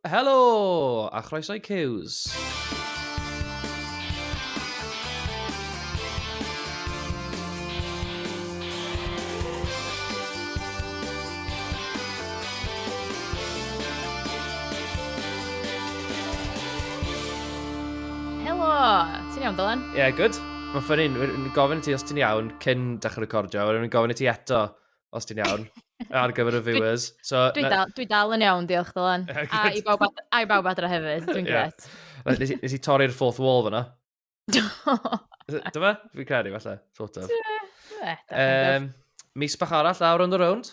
Helo! A chroeso i Cews. Helo! Ti'n iawn, Dylan? Ie, yeah, good. Mae'n ffynnu, yn gofyn i ti os ti'n iawn cyn dechrau recordio, wedyn yn gofyn i ti eto os ti'n iawn, ar gyfer y viewers. So, dwi, dal, dwi dal yn iawn, diolch Dylan. a i bawb, ad, a i bawb adra hefyd, dwi'n yeah. gret. Nes, nes i torri'r fourth wall fyna. Dyma, fi'n credu falle, sort of. Um, mis bach arall lawr on the round.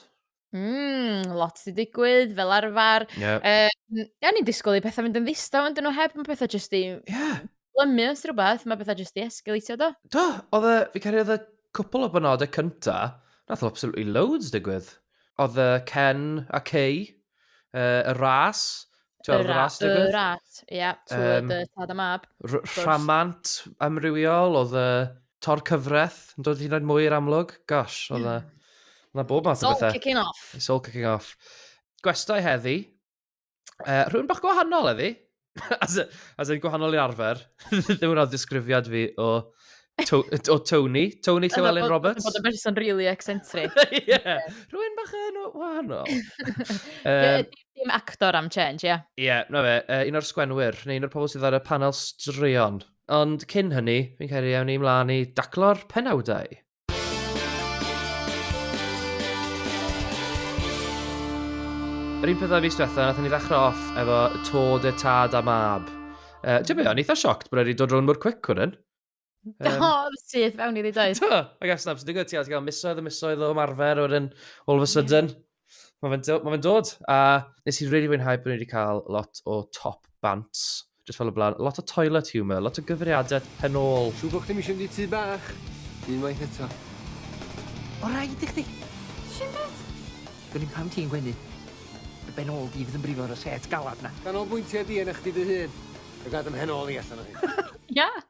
Mm, lot i digwydd, fel arfer. Yeah. Um, ia, ni'n disgwyl i pethau fynd yn ddistaw, ond nhw heb, mae pethau jyst i... Yeah. Clymu os rhywbeth, mae bethau jyst 'di esgaleitio do? Do, oedd y... fi'n credu oedd y cwpl o benodau cynta, nath absolutely loads digwydd. Oedd y Ken a Kay, uh, y ras, ti'n gweld y ras digwydd? Y ras, ie, yeah, trwy um, tad a mab. Rhamant amrywiol, oedd y tor cyfraith yn dod i hyn mwy i'r amlwg. Gosh, oedd y... Yna bob math o bethau. It's all kicking off. It's all kicking off. Gwestai heddi, uh, rhywun bach gwahanol eddi. as, a, as yn gwahanol i arfer. Ddim yn ddisgrifiad fi o, to, o Tony. Tony Llewellyn Roberts. Bod yn berson really eccentric. yeah. Rwy'n bach yn wahanol. um, Dim actor am change, ie. Yeah. Ie, yeah, no fe. Uh, un o'r sgwenwyr, neu un o'r pobl sydd ar y panel straeon. Ond cyn hynny, fi'n cael ei awn i mlaen i daclo'r penawdau. Yr un pethau fus diwetha, nath ni ddechrau off efo to dy tad a mab. Uh, Ti'n mynd, o'n eitha sioct bod wedi dod rhwng mor cwic hwn yn. Um, o, syth fewn i ddi doedd. Do, ac as nab sy'n digwydd, ti'n cael misoedd y misoedd o ymarfer o'r un all of a sudden. Yeah. Mae fe'n dod, ma fe dod. A nes i'n really fwynhau bod ni wedi cael lot o top bant. Just fel y blaen. Lot o toilet humour, lot o gyfriadau pen ôl. Siw bod chdi'n eisiau mynd i tŷ bach. Unwaith eto. O rai i chdi. Si'n byd? Dyn ni'n pam ti'n gwenu. Dy ben ôl di fydd yn brifo ar y set galad na. Ganolbwyntiau di yna chdi dy hun. Fe gad ym hen ôl i allan o hyn. Ia!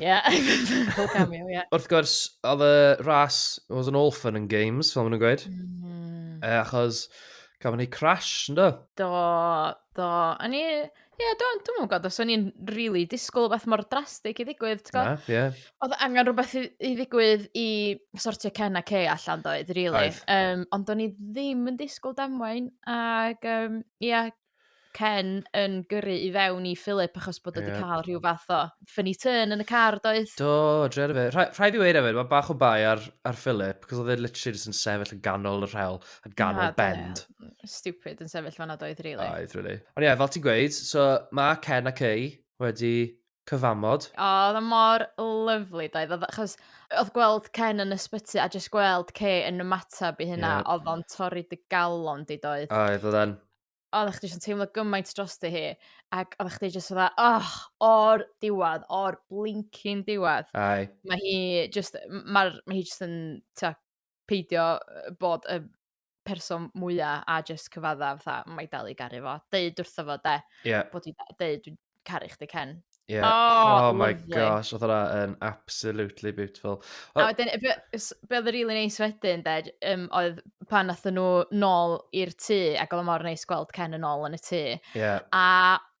Ie, pob cameo, ie. Wrth gwrs, oedd y ras, oedd yn all fun and games, fel maen nhw'n gweud. Mm. E, achos, gafon ni crash, ynddo? Do, do. O'n i... Ie, yeah, dwi'n dwi gwybod os o'n i'n rili really disgwyl o beth mor drastig i ddigwydd, ti'n gwybod? Na, ie. Yeah. Oedd angen rhywbeth i, i ddigwydd i sortio Ken a Kay allan doedd, rili. Really. Um, ond o'n i ddim yn disgwyl damwain, ac um, ie, yeah, Ken yn gyrru i fewn i Philip achos bod o wedi cael rhyw fath o funny turn yn y car doedd? Do, dre ar y fe. Rha, rhaid i weir efo, mae bach o bai ar, ar Philip, cos oedd e literally just yn sefyll yn ganol y rhel, yn ganol Na, bend. Ie. Stupid yn sefyll fanna doedd, really. Oedd, really. Ond ie, yeah, fel ti'n gweud, so mae Ken a Kay wedi cyfamod. O, oedd o mor lyfli doedd? Oedd o... achos oedd gweld Ken yn ysbyty a jyst gweld Kay yn ymateb i hynna, yeah. oedd o'n torri dy galon di doedd? Oedd, oedd e'n oeddech chdi jyst yn teimlo gymaint drosti hi, ac oeddech chdi jyst fatha, oh, o'r diwedd, o'r blincyn diwedd. Ai. Mae hi jyst, mae'r, mae hi jyst yn, ta, peidio bod y person mwya a jyst cyfadda fatha, mae i dal i garu fo. Deud wrtho fo, de. Ie. Bod i deud, dwi'n caru chdi, Ken. Ie. Oh, my lovely. gosh, oedd hwnna yn absolutely beautiful. A O, wedyn, be be oedd y rili neis wedyn, de, j- yym, oedd pan nathon nhw nôl i'r tŷ, ac oedd o mor neis gweld Ken yn ôl yn y tŷ. ie. A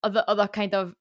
oedd o- oedd o kind of,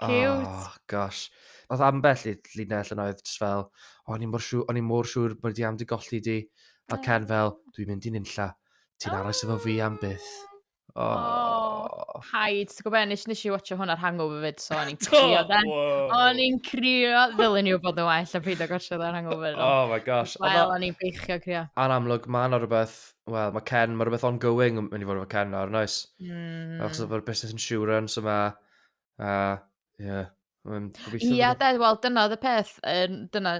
Cute. Oh, gosh. Oedd ambell i llinell yn oedd just fel, oh, o'n i mor siŵr, o'n i mor siŵr bod di am di golli di. A oh. Ken fel, dwi'n mynd i nunlla, ti'n oh. aros efo fi am byth. Oh. oh. Haid, ti'n gwybod, nes, nes i watcha hwn ar Hangover fyd, so o'n i'n crio then. O'n i'n crio, ddylen i'w bod yn well a pryd o gosio ar Hangover. Oh my gosh. Wel, o'n i'n beichio crio. A'n amlwg, mae yna rhywbeth, wel, mae Ken, mae rhywbeth ongoing yn mynd i fod efo Ken nawr, noes? Mm. Achos o'r business insurance yma, A, ie. Yeah. Um, Ia, de, wel, dyna oedd y peth. Um, dyna,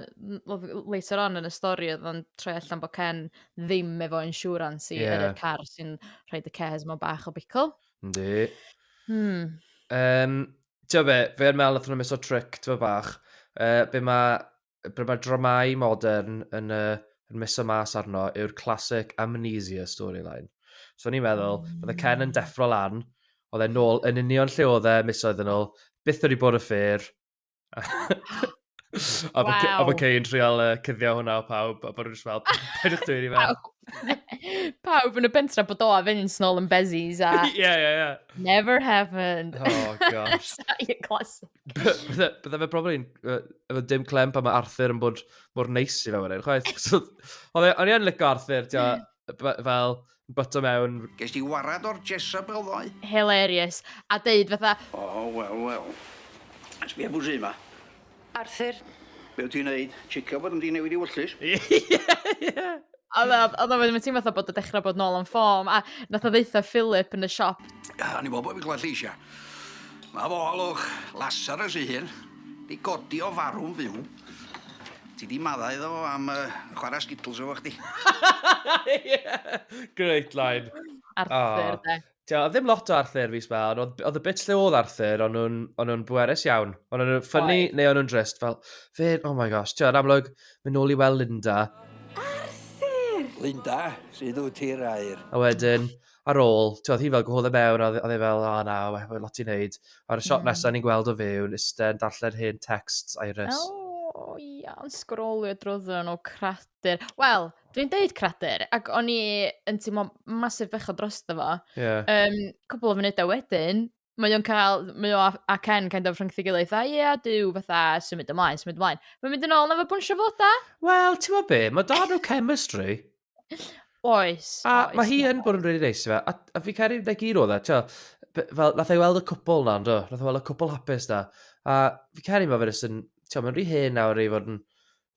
later on yn y stori, oedd o'n troi allan bod Ken ddim efo insurance i yeah. yr car sy'n rhoi y cares mewn bach o bicl. Yndi. Hmm. Um, Ti'n fe, fe yn meddwl, oedd hwnna'n meso trick, ti'n fe bach. Uh, be mae be mae dramau modern yn, uh, yn miso mas arno yw'r classic amnesia storyline. So ni'n meddwl, mm. bydde Ken yn deffro lan, oedd e'n nôl yn union lle oedd e misoedd yn ôl, byth wedi bod y ffyr. a bod wow. bod Kane trial uh, cyddio hwnna o pawb, a bod nhw'n just fel, paid o'ch dwi'n i fel. pawb yn y bentra bod o a fynd snol yn bezis a... yeah, yeah, yeah. Never happened. Oh, gosh. Classic. Bydde fe probably yn... Efo dim clem pan mae Arthur yn bod mor neis i fe wedyn, chwaith. So, Oedd e- o'n i yn licio Arthur, ti'n gwbod, b- b- fel, byto mewn. Ges di warad o'r Jezebel ddoe? Hilarious. A deud fatha... O, wel, wel. Sbia pwy sy 'ma. Arthur. Be wyt ti'n neud? Checio bod nhw 'di newid i wyllys? Ie, ie! A na, a na, mae'n teimlo fatha bod y dechrau bod nôl am ffom, a nath o ddeitha Philip yn y siop. A ni bobl fi'n glad lleisia. Mae fo alwch, Lazarus ei hun, di godi o farw'n fyw. Ti di maddau iddo fo am uh, chwarae skittles efo chdi. yeah. Great line. Arthur, oh. de. Dio, oedd ddim lot o Arthur fus ma, ond oedd, oedd y bits lle oedd Arthur, ond nhw'n, ond nhw'n bwerus iawn. Ond nhw'n ffynnu, neu ond nhw'n drist, fel, fe, oh my gosh, ti'n yn amlwg, mynd nôl i weld Linda. Arthur! Linda, sydd wyt ti'r air? A wedyn, ar ôl, ti'n oedd hi fel gwahodd y mewn, oedd e fel, o oh, na, mae'n lot i'n neud. A'r shot yeah. nesaf ni'n gweld o fewn, iste yn darllen hen texts, Iris. Oh, iawn, sgrolio drwyddyn nhw, cradur. Wel, Dwi'n deud cradur, ac o'n i yn teimlo masif bechod dros dy fo. Yeah. Um, cwbl o funudau wedyn, mae o'n cael, mae o a Ken kind of rhwngthi gilydd, a ie, yeah, dyw fatha symud ymlaen, symud ymlaen. Mae'n mynd yn ôl na fe bwnsio fod da? Wel, ti'n meddwl be, mae da nhw chemistry. Oes. A oes, mae hi yn bod yn rili really neis fe, a, a fi cael ei wneud gyd o dda, e, ti'n fel, nath ei weld y cwpl na, ynddo, nath ei weld y cwpl hapus na, a fi cael ei wneud fe, ti'n meddwl, mae'n rhi hen nawr i fod yn,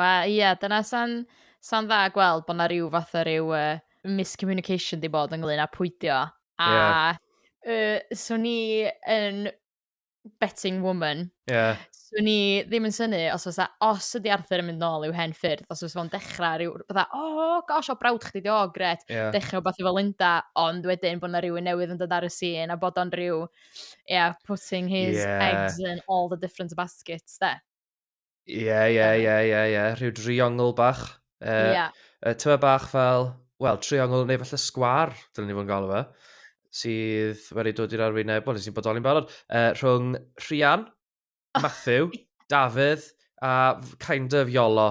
Wel ie dyna sa'n sa'n dda gweld bod 'na ryw fath o ryw yy miscommunication 'di bod ynglŷn â pwydio a yeah. uh, swn i yn betting woman yeah. swn i ddim yn syni os oes os ydi Arthur yn mynd nôl i'w hen ffyrdd os oes fo'n dechrau rhyw bydda o oh, gosh o brawd chdi di o gret yeah. dechrau beth efo Linda ond wedyn bod 'na rhywun newydd yn dod ar y sîn a bod o'n rhyw yeah, putting his yeah. eggs in all the different baskets de Ie, ie, ie, ie, ie. Rhyw driongl bach. Uh, yeah. Uh, tyma bach fel, wel, triongl neu falle sgwar, dylwn ni fod yn galw fe, sydd wedi dod i'r arwyneb, wel, nes i'n bodoli'n barod, uh, rhwng Rhian, oh. Matthew, Dafydd a kind of Iolo.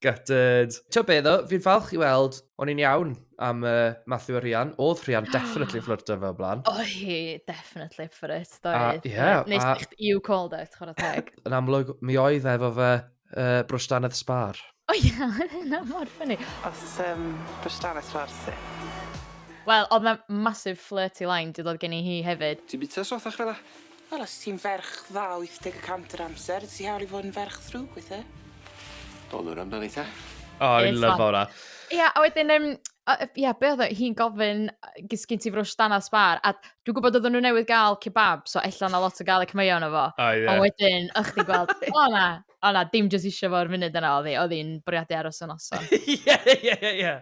Gutted. Ti'n be ddo, fi'n falch i weld, o'n i'n iawn am uh, Matthew a Rhian. Oedd Rhian definitely yn fflyrto fe o blaen. O hi, definitely ffyrt, doedd. Ie. Yeah, Nes a... you called it, chwarae teg. Yn amlwg, mi oedd efo fe uh, brwstanedd sbar. O ie, yna mor ffynnu. Os um, brwstanedd sbar ti. Wel, oedd mae'n massive flirty line, dwi ddod gen i hi hefyd. Ti'n bita sothach fel la? Wel os ti'n ferch dda wyth deg y cant yr amser, ti hawl i fod yn ferch ddrwg weithe. Dol nhw'r amdani ta. Oh, I love hwnna. Ia, a wedyn, um, ia, be oedd hi'n gofyn, gys gyn ti frwsh dan a sbar, a dwi'n gwybod oedden nhw newydd gael kebab, so ella na lot o gael y cymwyo yna fo. Oh, yeah. A wedyn, ych ti'n gweld, o na, O na, dim jyst eisiau fo'r funud yna, oedd hi, oedd hi'n bwriadu aros yn noson. Ie, ie, ie, ie.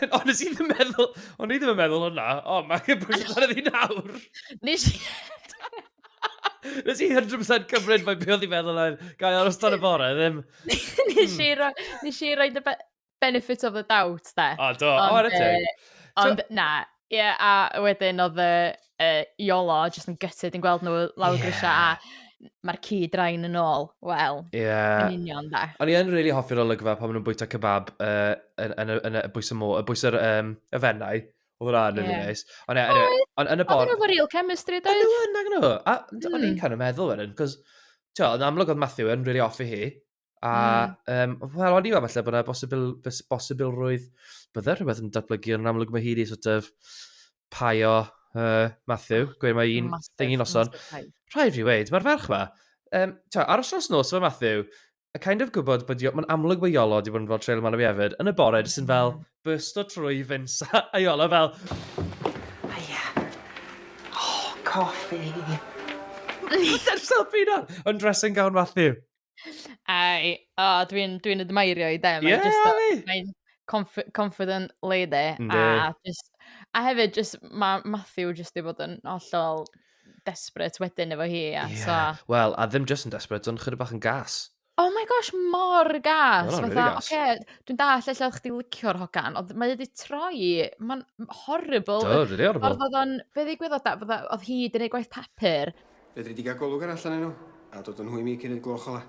Ond nes i ddim yn meddwl, o'n i ddim yn meddwl hwnna. O, mae'n cymryd amdano fi nawr. Nes i... Nes i 100% cymryd mae beth oedd i'n meddwl ar gael aros dan y bore, ddim... Nes i roi... Nes i roi dy be... benefit of the doubt, de. O, do, o, ar y teg. Ond, na, ie, yeah, a wedyn oedd y uh, Iolo jyst yn gytid yn gweld nhw lawr yeah. grisiau a mae'r ci drain yn ôl. Wel, yeah. yn union da. O'n i yn really hoffi'r olygfa pan maen nhw'n bwyta kebab uh, yn, yn, yn, y bwys y mô, y bwys yr um, y fennau. Oedd hwnna yn really nice. Ond e, anyway, on, yn y bor... Oedd hwnna real chemistry, doedd? Oedd hwnna, gyda nhw. A o'n i'n hmm. kind of meddwl wedyn, cos, ti'n amlwg oedd Matthew yn really offi hi. A, mm. um, wel, o'n i meddwl falle bod yna bosibil, bosibilrwydd bydde rhywbeth yn datblygu, ond yn amlwg mae hi wedi sort of paio uh, Matthew, oh, gweud mae un thing i noson. Rhaid fi weid, mae'r ferch ma, um, ta, aros nos nos efo Matthew, a kind of gwybod bod mae'n amlwg bod Iolo wedi bod yn fel trail man o fi hefyd, yn y bore, jyst yn fel hmm. burst o trwy fyns a Iolo fel... Aia. Oh, coffi. Dy'r selfie na! Yn dressing gown Matthew. Ai, o, dwi'n dwi admairio i de. Ie, yeah, just, fi! Mae'n conf confident lady. Ynddi. A, just, a hefyd, just, mae Matthew just i fod yn hollol desperate wedyn efo hi. Ie, yeah. so... wel, a ddim just yn desperate, ond chyda bach yn gas. Oh my gosh, mor gas. Mae'n really gas. Okay, dwi'n dall lle oedd chdi licio'r hogan, ond mae wedi troi, mae'n horrible. Do, really horrible. Oedd o'n, fe ddigwyddodd da, oedd hi wedi gwneud gwaith papur, Fedri di gael golwg arall arnyn nhw, a dod â nhw i mi cyn i'r gloch ola.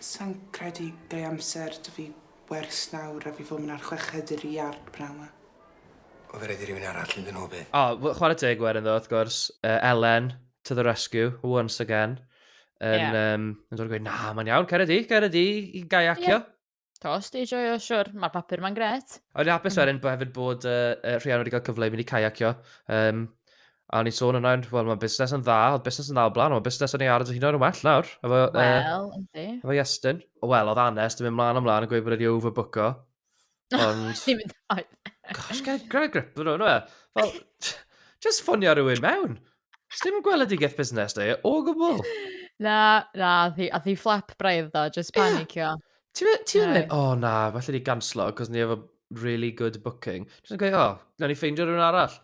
Sai'n credu gai amser 'da fi wers nawr a fi fod myn ar chweched i'r iard bnaw ma. O fe raid i rywun arall mynd â nhw bydd? O, wel chwarae teg i Werin ddo wrth gwrs, yy Elen to the rescue, once again, yn yym yn dod a gweud na mae'n iawn, cera di, cera di i gaiacio. To, os di joio, siwr, mae'r papur ma'n gret. A wedi hapus wedyn bod hefyd bod uh, uh, Rhian wedi cael cyfle i mynd i caiacio. Um, a ni'n sôn yna, wel mae'n busnes yn dda, oedd busnes yn dda o blaen, ond busnes yn ei ardd hyn o'n well nawr. Efo, well, uh, yndi. Efo Iestyn. Wel, oedd Anes, dim yn mlaen ymlaen yn gweud bod wedi overbooker. Ond... Dim yn dweud. Gosh, gael grip yn o'n e. Fel, just ffonio rhywun mewn. Sdim gweledigaeth busnes da, o gwbl. Na, na, ath hi, ath hi fflap braidd do, just Ie. panicio. Ti'n me- ti'n Ie. meddwl, o oh, na, falle ni ganslo, cos ni efo really good booking. Dwi'n gweud, o, oh, na ni ffeindio rhywun arall.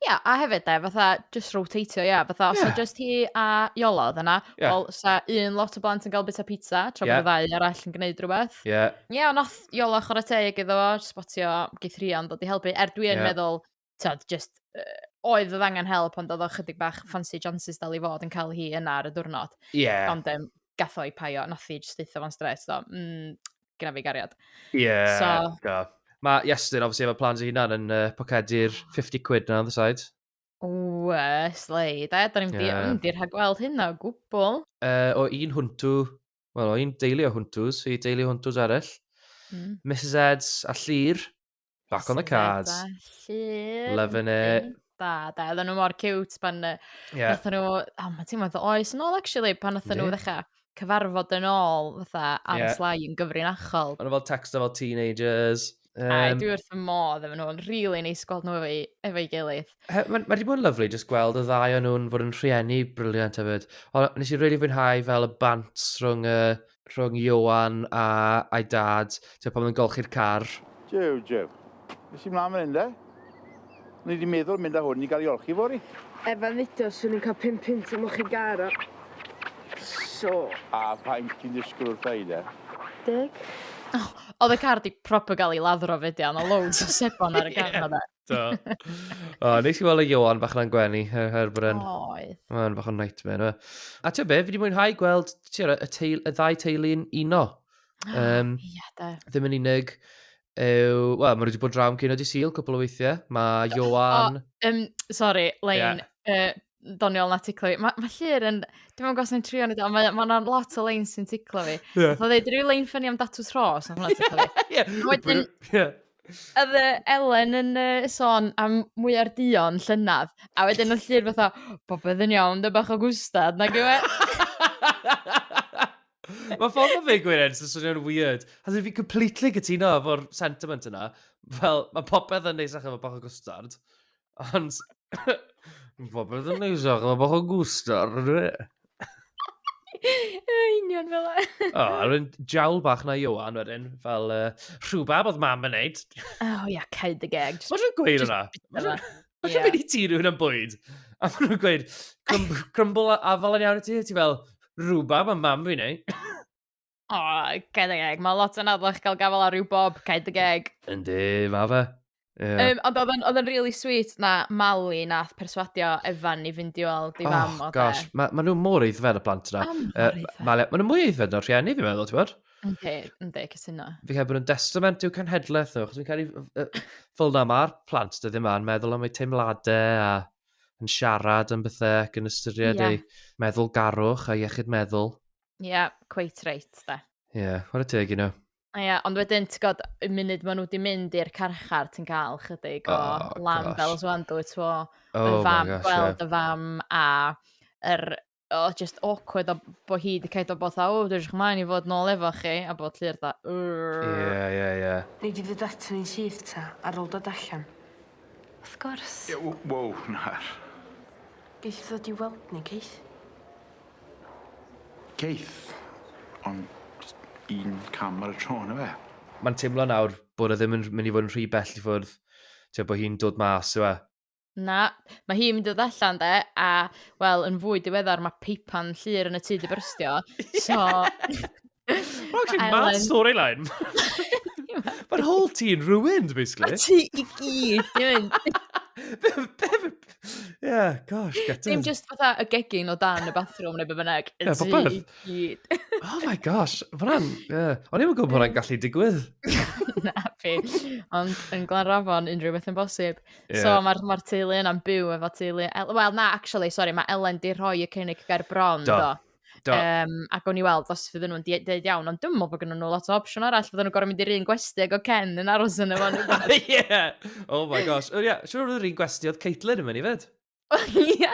Ia, a hefyd de, fatha, just rotatio, ia, fatha, os Ie. yeah. just hi a Iolo oedd yna, Ie. yeah. wel, sa un lot o blant yn cael bita pizza, tra Ie. bod y ddau arall yn gwneud rhywbeth. Ie. Yeah. Ie, yeah, ond nath Iolo chwarae teg iddo fo, spotio geithrion dod i helpu, er dwi yn Ie. meddwl, tyd, just, uh, oedd oedd angen help, ond oedd o chydig bach fancy chances dal i fod yn cael hi yna ar y diwrnod. Ie. Yeah. Ond um, gatho i paio, nath i just eitha fo'n stres, so, mm, gyda fi gariad. Ie, yeah, so, go. Mae Iestyn, obviously, efo plans i hunan yn uh, pocedi'r 50 quid na, on the side. Ww, slei. Da, da ni'n yeah. mynd i'r rhagweld hyn o gwbl. Uh, o un hwntw, wel, o un deulu o hwntws i deulu o hwntws arall. Mm. Mrs Eds a Llyr, Back on the cards. Llun. Loving it. Da, da. Oedden nhw mor cute pan... Ie. Yeah. Oedden nhw... Oh, mae ti'n meddwl oes yn ôl, actually, pan oedden nhw ddechrau cyfarfod yn ôl, fatha, ar yeah. y slai yn gyfrinachol. Ond fel texto fel teenagers. Um, Ai, dwi wrth y modd efo nhw'n rili really neis gweld nhw efo'i efo gilydd. Mae ma wedi bod yn lyflu jyst gweld y ddau o'n nhw'n fod yn rhieni briliant hefyd. Ond nes i rili really fwynhau fel y bant rhwng y rhwng Ioan a, a'i dad, ti'n pan nhw'n golchi'r car. Jiw, jiw. Nes i mlaen fan hyn de. O'n i di meddwl mynd â hwn i gael ei olchi fori. Efo Lido, swn i'n cael pum punt am olchi gar o. So. A faint ti'n disgwyl wrtha i de? Deg. Oedd y car di proper gael ei laddro fyd iawn, o loads o sebon ar y car yma de. Do. o, nes i weld y Johan bach na'n gwenu, her, her bryn. Oes. Mae'n bach o'n nightmare. A ti'n be, fi wedi mwynhau gweld tiwr, y, teil, y ddau teulu'n uno. Um, Ia, da. Ddim yn unig yw... Wel, mae wedi bod drawn cyn o di syl cwpl o weithiau. Mae Johan... O, um, sorry, Lein. Yeah. Uh, ddoniol na ticlo fi. Mae ma llyr yn... Dwi'n meddwl gos ni'n trio ni do, mae yna ma lot o leins sy'n ticlo fi. Yeah. Oedd dweud, rhyw lein ffynnu am datws rhos, a hwnna ticlo fi. yeah. Wedyn, yeah. Oedd Elen yn uh, sôn am mwy o'r dion llynedd, a wedyn oedd llyr fatha, popeth yn iawn, dy bach o gwstad, na gywe. Mae ffordd o fe gwirionedd sy'n swnio'n weird. Has if you completely gytuno efo'r sentiment yna, fel, mae popeth yn neis achos efo bach o gwstard. Ond mae popeth yn neis ac mae bach o gwstar, yn dwi? Yn union fel e. O, a rwy'n jawl bach na Iowan wedyn, fel uh, rhywbeth oedd mam yn neud. Oh, yeah, caid y geg. Mae rhywun gweud yna. Mae rhywun mynd i ti rhywun yn bwyd. A mae rhywun gweud, crumble a fel yn iawn i ti, ti fel, rhywbeth mae mam fi'n neud. O, oh, cael ei geg. Mae lot yn adlach gael gafel ar ryw bob, cael ei geg. Yndi, ma fe. Yeah. Um, ond oedd yn, oedd yn really sweet na Mali nath perswadio Evan i fynd i weld i oh, fam. Oh, gosh, mae ma nhw mor eiddfed y plant yna. Oh, uh, Mali, mae nhw mwy eiddfed na'r rhieni, fi'n meddwl, ti'n bod? Yndi, yndi, cysyno. Fi cael bod yn destament i'w cenhedlaeth nhw, chos fi'n cael ei... Fel na, mae'r plant dydyn yma yn meddwl am eu teimladau a yn siarad am bethau ac yn ystyried yeah. eu meddwl garwch a iechyd meddwl. Ie, yeah, quite right, da. Ie, yeah, what a teg, you know. Ie, yeah, ond wedyn, ti'n god, y munud maen nhw wedi mynd i'r carchar, ti'n cael chydig o oh, lamb fel os wan dwi, ti'n oh, y fam, gosh, gweld yeah. y fam, a yr oh, just awkward o bo hi wedi cael o bod dda, o, dwi'n chymlaen i fod nôl efo chi, a bod llir dda, Ie, ie, ie. Ni di fod at ni'n syth ta, ar ôl dod allan. Wrth gwrs. Ie w- wow na. Geith ddod i weld ni Keith? Keith? Ond jyst un cam ar y tro on' yfe? Ma'n timlo nawr bod e ddim yn rh- myn' i fod yn rhy bell i ffwrdd. T'o' bo' hi'n dod mas yw e? Na. Ma' hi'n mynd i ddod allan 'de a wel yn fwy diweddar ma' peipan llŷr yn y tŷ 'di byrstio so Well, actually, mad Elen. storyline. Mae'r whole ti'n ruined, basically. Mae ti i gyd, dwi'n Yeah, gosh, get Dim just fatha y gegin o dan y bathroom neu be bynnag. Ie, Ti popeth. i gyd. Oh my gosh, fran, yeah. O'n i'n gwybod bod hwnna'n gallu digwydd. Na, fi. Ond yn Glanrafon, unrhyw beth yn bosib. Yeah. So mae'r ma teulu yna'n byw efo teulu... El- Wel, na, actually, sorry, mae Elen di rhoi y cynnig ger bron, Do. do. Do. Um, ac o'n i weld os fydden nhw'n dweud iawn, ond dwi'n meddwl bod gennyn nhw lot o opsiwn arall, fydden nhw'n gorau mynd i'r un gwesti ag o Ken yn aros yn efo nhw. yeah! Oh my gosh. Oh, yeah. Siwr oedd yr un gwesti oedd Caitlin yn mynd i fyd. Ie.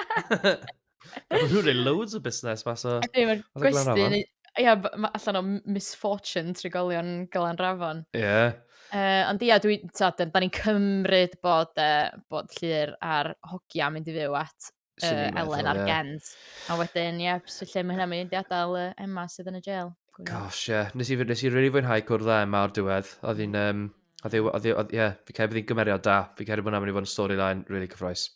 Mae nhw'n rhaid loads o busnes mas o... Ydy, mae'r gwesti... Ia, allan o misfortune trigolion Glan Rafon. Ie. Yeah. Uh, ond ia, dwi, ta, da ni'n cymryd bod, uh, bod llir ar hogia mynd i fyw at uh, Ellen ar yeah. Gens. A wedyn, ie, yeah, lle mae hynna'n mynd i adael uh, Emma sydd yn y jail. Gosh, ie. Yeah. Nes i, nes i really fwynhau cwrdd â Emma ar diwedd. Oedd hi'n, um, oedd hi, oedd hi, ie, yeah, fi cael bod hi'n gymeriad da. Fi cael bod hwnna'n mynd i fod yn storyline really cyffroes.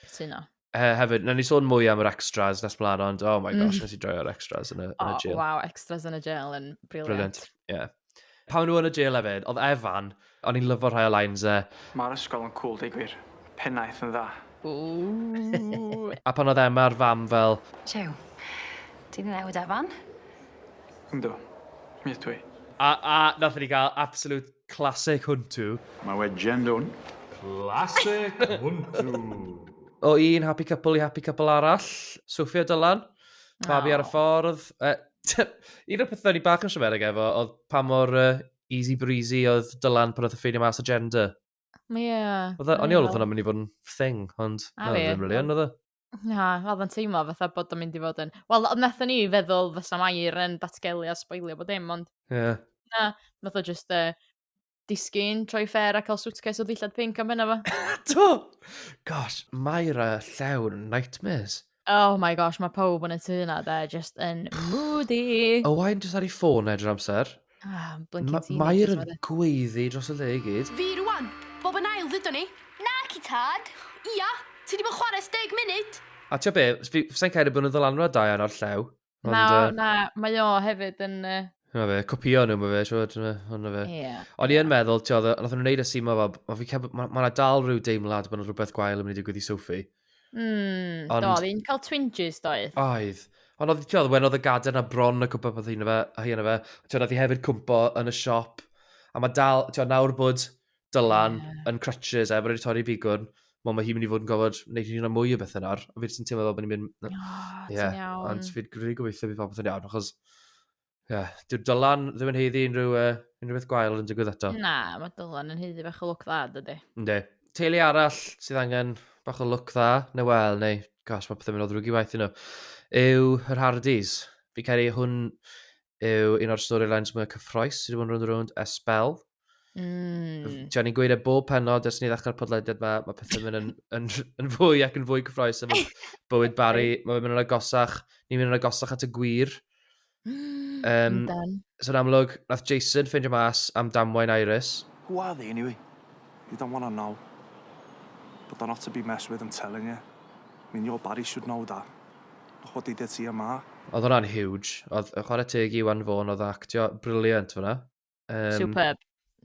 Cytuno. He, hefyd, na ni sôn mwy am yr extras nes blaen, ond oh my gosh, mm. nes i droio'r extras yn y, oh, yn y jail. Oh, wow, extras yn y jail yn brilliant. Brilliant, ie. Yeah. Pan o'n nhw yn y jail efyd, oedd Evan, o'n i'n lyfo rhai o lines e. Mae'r ysgol yn cwl deu gwir. Pennaeth yn dda. Ooh. A pan oedd Emma a'r fam fel. Jiw. Ti di newid Evan? Yndw. Mi ydw i. A a nathon ni gael absolute classic hwntw. Mae we jen dwn. Classic hwntw. O un happy couple i happy couple arall. Sophie a Dylan. Babi ar y ffordd. Un o'r pethau ni bach yn siamerig efo oedd pa mor uh, easy breezy oedd Dylan pan oedd y ffeinio mas o gender. Ie. Yeah, oedd o'n iol oedd hwnna'n mynd i fod yn thing, ond na, oedd yn rili yn oedd e. Na, oedd yn teimlo fatha bod o'n mynd i fod yn... Wel, wnaethon ni feddwl fysa Mair yn datgelu a sboilio bod dim, ond... Ie. Yeah. Na, nath o just uh, disgyn, troi ffair a cael suitcase o ddillad pink am hynna fo. Do! Gosh, Myra llawn nightmares. Oh my gosh, mae pawb yn y tu yna, de, just yn moody. Owain jyst ar ei ffôn edrych amser. Ah, blinking Ma teenagers. Mair yn ma' gweiddi dros y le i gyd. Fi rwan! Bob yn ail ddydyn ni! Na, ci tad! Ia! Ti di bod chwarae 10 munud! A ti'n be, sa'n cael ei bod yn ddylanwad da iawn o'r llew. Ond, na, uh, na, mae o hefyd yn... Uh... Mae fe, copio nhw, mae fe, siwr, ond fe. Yeah. O'n i yn meddwl, ti oedd, nath nhw'n neud y simo, mae ma, ma dal rhyw deimlad bod yna rhywbeth gwael yn mynd i digwydd i Sophie. Mm, ond... do, fi'n cael twinges doedd. Oedd. Ond oedd, ti oedd, wen oedd y gader na bron y cwmpa peth hyn fe, hyn fe. Ti oedd, oedd hi hefyd cwmpo yn y siop. A mae dal, ti oedd, nawr bod Dylan yeah. yn crutches, a bod wedi torri bigwrn, mae ma hi'n mynd i fod yn gofod wneud hyn o mwy o bethau nawr, a fi jyst yn teimlo fel bod ni'n mynd... Oh, yeah. iawn. Ond fi'n gwneud gobeithio bydd popeth yn iawn, achos... Yeah. Dyw Dylan ddim yn heiddi unrhyw, uh, unrhyw beth gwael yn digwydd eto. Na, mae Dylan yn heiddi bach o look dda, dydy. Ynddi. Teulu arall sydd angen bach o look dda, neu wel, neu, gosh, mae pethau'n mynd o ddrwg i waith yno, yw yr Hardys. Fi cael ei hwn yw un o'r storylines mwy cyffroes sydd wedi bod yn rhwnd rhwnd ers spel. Mm. Ti'n ni'n gweud e bob penod ers ni ddechrau'r podlediad yma, mae pethau'n mynd yn, yn, yn, fwy ac yn fwy cyffroes yn bywyd Barry. Mae'n mynd yn agosach, ni'n mynd yn agosach at y gwir. Um, so yn amlwg, nath Jason ffeindio mas am damwain Iris. Gwad i, anyway. You don't want to know. But they're not to be messed with, I'm telling you. I mean, your Barry should know that. Look what they did to your ma. Oedd hwnna'n huge. Oedd chwarae teg i Iwan Fawn, oedd actio briliant fyna. Um, Superb.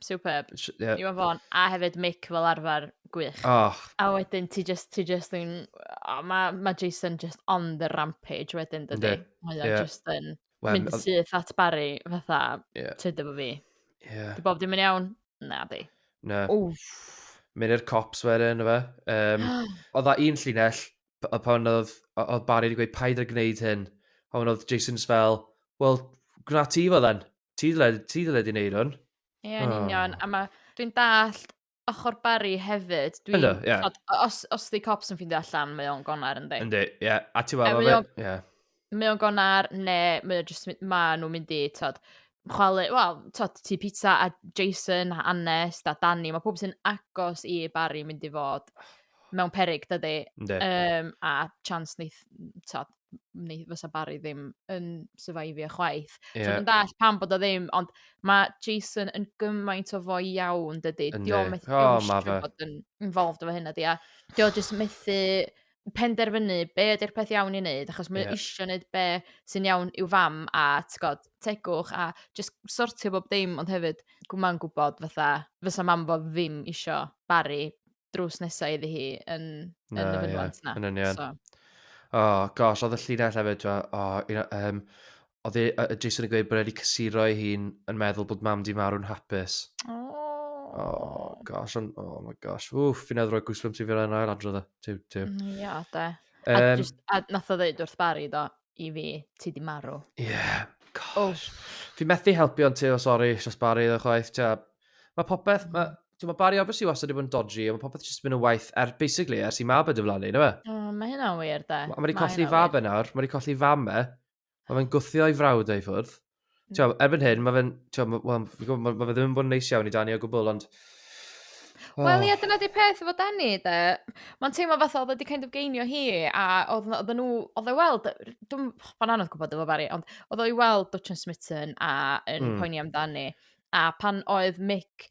Superb. Yeah. Iwan Fon, a hefyd Mick fel arfer, gwych. Oh. A wedyn ti just, ti just yn... Oh, mae ma Jason just on the rampage wedyn, dydy. Yeah. Mae yeah. just yn well, mynd syth at Barry fatha, yeah. tyd efo fi. Yeah. Di bob dim yn iawn? Na, di. Na. Wff. Mynd i'r cops wedyn, fe. Um, oedd da un llinell, a pan oedd, oedd Barry wedi gweud paid ar gwneud hyn, a pan oedd Jason's fel, well, gwna ti fo then. Ti ddyled, ti ddyled i wneud hwn. Ie, yn oh. union. A mae, dwi'n dallt ochr Barry hefyd. Dwi'n, Ynddo, yeah. Tod, os, os di cops yn ffindio allan, mae o'n gonar yndi. Yndi, ie. Yeah. A ti wafo fe, ie. Yeah. Mae o'n gonar, ne, mae o'n just, ma nhw'n mynd i, tod, chwalu, wel, tod, ti pizza a Jason, a Annes, a Danny, mae pob sy'n agos i Barry mynd i fod mewn perig, dydy. Yndi. Um, a chance neith, tod, neu fysa Barry ddim yn survivio chwaith. Yeah. So, yn dall pam bod o ddim, ond mae Jason yn gymaint o fo iawn, dydy. Yndi. Dio methu oh, eisiau bod yn involved efo hynna, di. A dio jyst methu penderfynu be ydy'r peth iawn i wneud, achos mae yeah. eisiau wneud be sy'n iawn i'w fam a tgod, tegwch a just sortio bob dim, ond hefyd mae'n gwybod fatha, fysa mam fo ddim eisiau Barry drws nesaf iddi hi yn, yn no, y fynwant yeah. na. Yn union. So. Oh, gosh, oedd y llinell hefyd, oh, you know, um, oedd e, uh, Jason yn gweud bod wedi cysuro ei hun yn meddwl bod mam di marw'n hapus. Oh. Oh, gosh, on, oh my gosh. Wff, fi'n edrych o'r gwsbwm ti fi'n rhaid yn ail adrodd o. Tiw, tiw. Mm, ia, de. Um, a, just, a nath o ddeud wrth Barry, do, i fi, ti di marw. Ie, yeah, gosh. Oh. Fi methu helpu ond ti, o oh, sori, Sios Barry, ddech chwaith, tia. Mae popeth, mae, ti'n ma Barry obviously wastad wedi bod yn dodgy, ond mae popeth jyst yn mynd yn waith, er, basically, ers i mab y dyflannu, neu fe? Oh, mae hynna wir, da. Mae wedi colli fab e nawr, mae wedi colli fam e. Mae fe'n gwthio i frawd ei ffwrdd. Ti'n gwybod, erbyn hyn, mae fe'n... Ti'n gwybod, wel, fi'n gwybod, mae ma fe ddim yn bod yn neis iawn i Dani o gwbl, ond... Oh. Wel, ie, dyna di peth efo Dani, de. Mae'n teimlo fath oedd wedi kind of geinio hi, a oedd, oedd nhw, oedd ei weld, dwi'n fan anodd gwybod efo Barry, ond oedd o'i weld Dutch and Smitten a yn mm. poeni amdani. A pan oedd Mick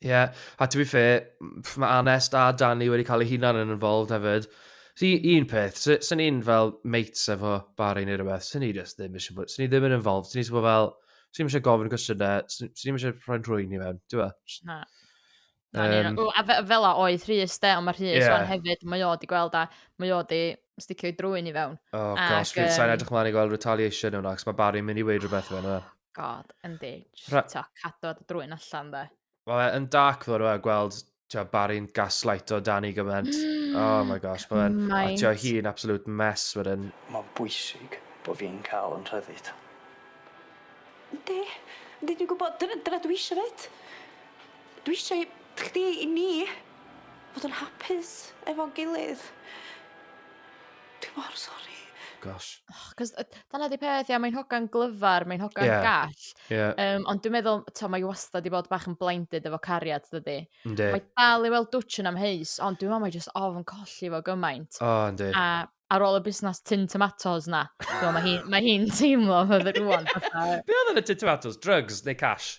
Ie, yeah. a to be fair, mae Anes a Danny wedi cael ei hunan yn involved hefyd. Si, un peth, sy'n ni'n fel mates efo Barry neu rhywbeth, sy'n ni just ddim eisiau bod, sy'n ni ddim yn involved, sy'n ni eisiau bod fel, sy'n ni eisiau gofyn cwestiynau, sy'n ni eisiau rhoi'n rhwy'n ni mewn, ti'n fel? Na. Um, o, a fe, fel a oedd Rhys de, ond mae Rhys yeah. o'n hefyd, mae o wedi gweld a mae o wedi sticio i drwy'n i fewn. Oh gosh, um, sa'n edrych mlaen i gweld retaliation o'n ac mae Barry'n mynd i weid rhywbeth fe, na? God, yndi. Just, Ra- t'o, cadw at y drwy'n allan, de. Mae fe yn dark ddo, rwy'n gweld tio, Barry'n gaslight o Dani gymaint. Mm, oh my gosh, mae fe'n... A tio, hi'n absolute mess wedyn. Mae'n bwysig bod fi'n cael yn rhyddid. Yndi, yndi, dwi'n gwybod, dyna, dyna dwi eisiau fyd. Dwi eisiau chdi i ni fod yn hapus efo'n gilydd. Dwi mor sori. Gosh. Oh 'c'os yy dyna 'di peth ia mae'n hogan glyfar mae'n hogan... Ia. ...gall. Ia. Yym ond dwi'n meddwl t'o' mae 'i wastad 'di bod bach yn blinded efo cariad dydi? Yndi. Mae dal i weld dwtsh yn amheus ond dwi me'wl mae jyst ofn colli fo gymaint. O yndi. A ar ôl y busnas tin tomatos 'na t'mo' ma' hi ma' hi'n teimlo fydde rŵan fatha... Be' odd yn y tin tomatos? Drygs neu cash?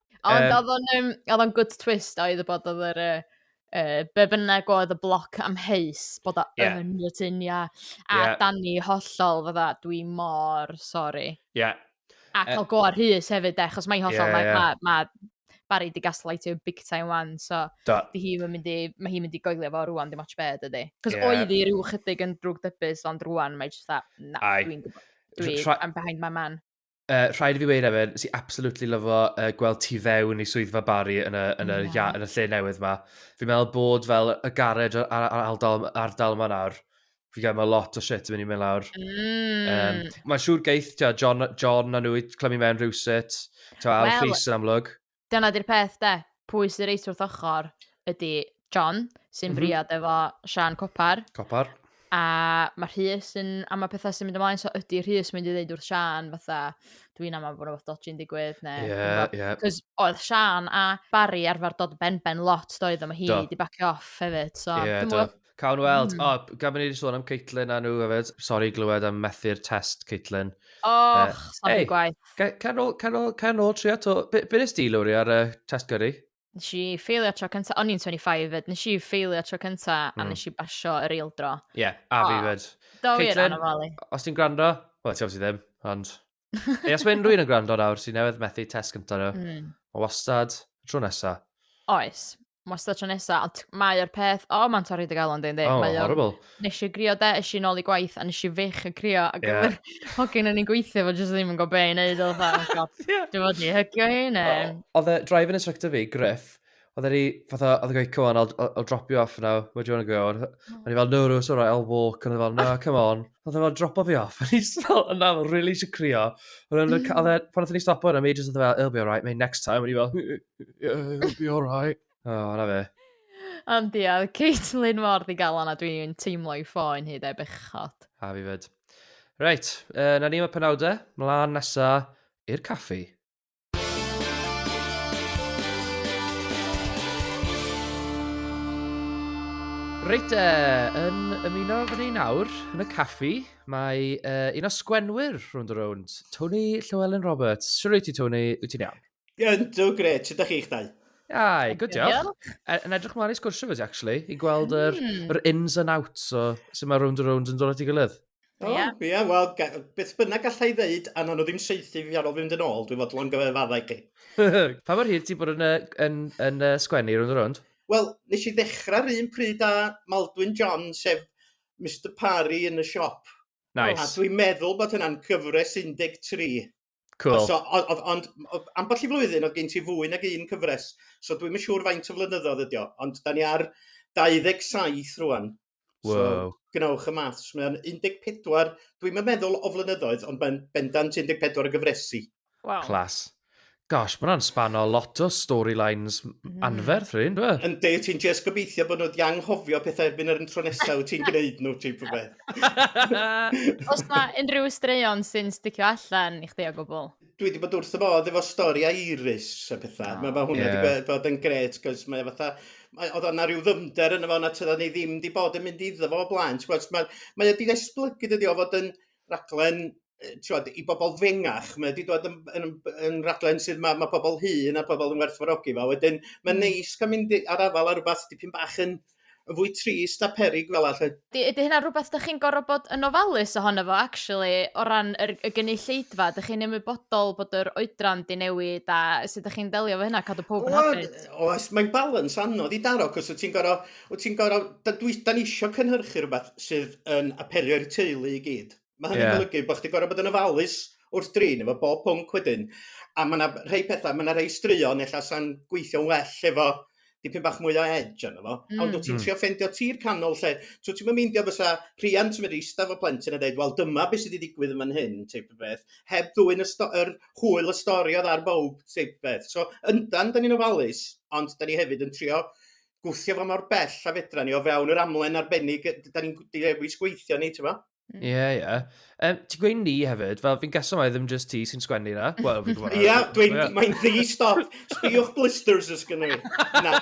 Ond um, oedd o'n um, oedd o'n good twist oedd y bod oedd yr... Uh, uh, be bynnag oedd y bloc amheus bod o yeah. yn y tyn, ia. A yeah. Dani hollol fydda, dwi mor sori. Ie. Yeah. A cael uh, go ar hys hefyd, de, chos mae'n hollol, yeah, mae, yeah. mae, mae Barry di gaslightio big time wan, so da. di hi mynd i, mae hi'n mynd i goelio fo rwan, dim ots bed ydy. Cos yeah. oedd hi rhyw chydig yn drwg dybus, ond rwan mae jyst that, na, dwi'n gwybod. Dwi, tra... I'm behind my man. Uh, rhaid i fi weir efo, nes i absolutely lyfo uh, gweld tu fewn i swyddfa Barry yn y, yn y, yeah. yn y lle newydd yma. Fi'n meddwl bod fel y garej ar, ar, ar ardal, ardal yma nawr, fi'n gael meddwl lot o shit yn mynd i mynd lawr. Mm. Um, Mae'n siŵr geith, tia, John, John a nhw i clymu mewn rhywsut, tia, well, Alfis yn amlwg. Dyna 'di'r peth 'de. Pwy sy reit wrth ochr ydy John, sy'n mm -hmm. briod efo Sian Copar. Copar. A mae Rhys yn am y pethau sy'n mynd ymlaen, so ydy Rhys mynd i ddeud wrth Sian fatha, dwi'n am bod rhywbeth dodgy'n digwydd, neu... Ie, ie. Cos oedd Sian a Barry arfer dod ben ben lot, doedd, yma hi di bacio off hefyd, so... Ie, do. Cawn weld. Mm. O, oh, gan bod ni wedi sôn am Caitlin a nhw hefyd. Sori glywed am methu'r test, Caitlin. Och, uh, sori hey, gwaith. Can ôl, can ôl, can ôl trio to. Be, be nes di, Lowry, ar uh, test gyrru? Nes i ffeilio tro cynta, o'n i'n 25 fyd, nes i ffeilio tro cynta mm. a hmm. nes i basio yr eil dro. Ie, yeah, a fi fyd. Do wir anofalu. Os ti'n gwrando, wel, ti'n obviously ddim, ond... Ei, os mae unrhyw un yn gwrando nawr sy'n newydd methu test gyntaf nhw, mm. mae wastad tro nesa. Oes, mae wastad tro nesa, ond mae'r peth, o, oh, mae'n torri dy galon dyn, oh, mae horrible. Nes i grio de, nes i'n ôl i gwaith, a nes i fych y crio, ac yeah. yr hogyn yn ei gweithio, fo jyst ddim yn gwybod be i wneud, oedd fatha, oh, dwi'n fod i hygio hi, ne. Oedd y drive-in instructor fi, Griff, Oedd e'n i, fatha, oedd e'n gweud, come on, I'll, I'll, I'll drop you off now, where do you want to go? O'n oh. i fel, no, no, it's alright, I'll walk. O'n i fel, no, ah. come on. Oedd e'n fel, dropo fi off. O'n i fel, yna, fel, really eisiau crio. O'n e'n, mm. oedd e, pan oedd ni stopo yna, mi just oedd e fel, it'll be alright, mate, next time. O'n i fel, yeah, it'll be alright. O, oh, na fe. Ond ia, Caitlin mor ddigalon a dwi'n teimlo i ffoen hyd e bechod. A fi fyd. Reit, uh, na ni mae penawdau, mlaen nesa i'r caffi. Reit, uh, yn ymuno fy ni nawr yn y caffi, mae uh, un o sgwenwyr rhwnd o rownd, Tony Llewellyn Roberts. Siwr wyt ti, Tony, wyt ti'n iawn? Yn do, gret, sut ydych chi'ch dau? Ai, good diolch. E, yn edrych mlaen i sgwrsio fes, actually, i gweld yr, mm. yr ins and outs o sut mae rownd o rownd yn dod at ei gilydd. O, ia, yeah. yeah, wel, beth bynnag gallai ddeud, a nhw'n ddim seithi fi ar ôl fynd yn ôl, dwi'n fodlon gyfefaddau chi. pa mor hir ti bod yn, yn, yn, yn sgwennu rhwng y rwnd? Wel, nes i ddechrau'r un pryd â Maldwyn John, sef Mr Parry yn y siop. Nice. A dwi'n meddwl bod hynna'n cyfres 13. Cool. So, ond, ond, ond ambell i flwyddyn oedd gen ti fwy nag un cyfres, so dwi'n yn siŵr faint o flynyddoedd ydi o, ond da ni ar 27 rwan. Wow. So, gwnewch y maths. Mae'n 14, dwi'n yn meddwl o flynyddoedd, ond mae'n bendant 14 o gyfresu. Wow. Clas. Gosh, mae'n spanno lot o storylines mm. anferth rhywun, dwi? Yndi, ti'n just gobeithio bod nhw wedi anghofio pethau erbyn yr intro nesaf wyt ti'n gwneud nhw, ti'n rhywbeth. Os mae unrhyw straeon sy'n sticio allan i chdi o gwbl? Dwi wedi bod wrth y modd efo stori a iris a pethau. Oh, mae ma hwnna wedi yeah. bod yn gret, cos mae fatha... Mae, oedd yna rhyw ddyfnder yn efo na tyda ni ddim wedi bod yn mynd iddo fo o blaen. Mae, mae wedi esblygu dydi o fod yn raglen yy t'wod i bobol fengach mae o 'di dod yn yn yn raglen sydd ma' ma' pobol hŷn a pobol yn werthfawrogi fo a wedyn mae'n neis ca'l mynd i ar afal ar rwbath dipyn bach yn yn fwy trist a peryg fela 'lly. Ydi ydi hynna'n rwbath dych chi'n gor'o' bod yn ofalus ohono fo actually o ran yr y gynulleidfa dych chi'n ymwybodol bod yr oedran 'di newid a sud dych chi'n delio efo hynna cadw powb yn hapus? O yy oes mae'n balans anodd i daro 'c'os wt ti'n gor'o' wt ti'n gor'o' d- dwi 'dan ni isio cynhyrchu rwbath sydd yn apelio i'r teulu i gyd. Mae hynny'n yeah. golygu bod chdi'n gorfod bod yn ofalus wrth drin efo bob pwnc wedyn. A mae yna rhai pethau, mae yna rhai straeon efallai sa'n gweithio'n well efo dipyn bach mwy o edge yna fo. Mm. Ond wyt ti'n mm. trio ffendio tir canol lle, so ti'n meindio fysa rhiant yn mynd i eistedd o plentyn a dweud, wel dyma beth sydd wedi digwydd yn fan hyn, teip o beth, heb ddwy'n y, yr hwyl y stori oedd ar bob, teip o beth. So yndan, da ni'n ofalus, ond da ni hefyd yn trio gwthio fo mor bell a fedra ni o fewn yr amlen arbennig da ni'n dewis gweithio ni, ti'n Ie, mm. yeah, ie. Yeah. Um, ti'n gweud ni hefyd, fel fi'n gaso mai ddim just ti sy'n sgwennu na. Wel, fi'n gwybod. Ie, dwi'n... Mae'n ddi, stop. Sbiwch blisters ys gyda ni. Na,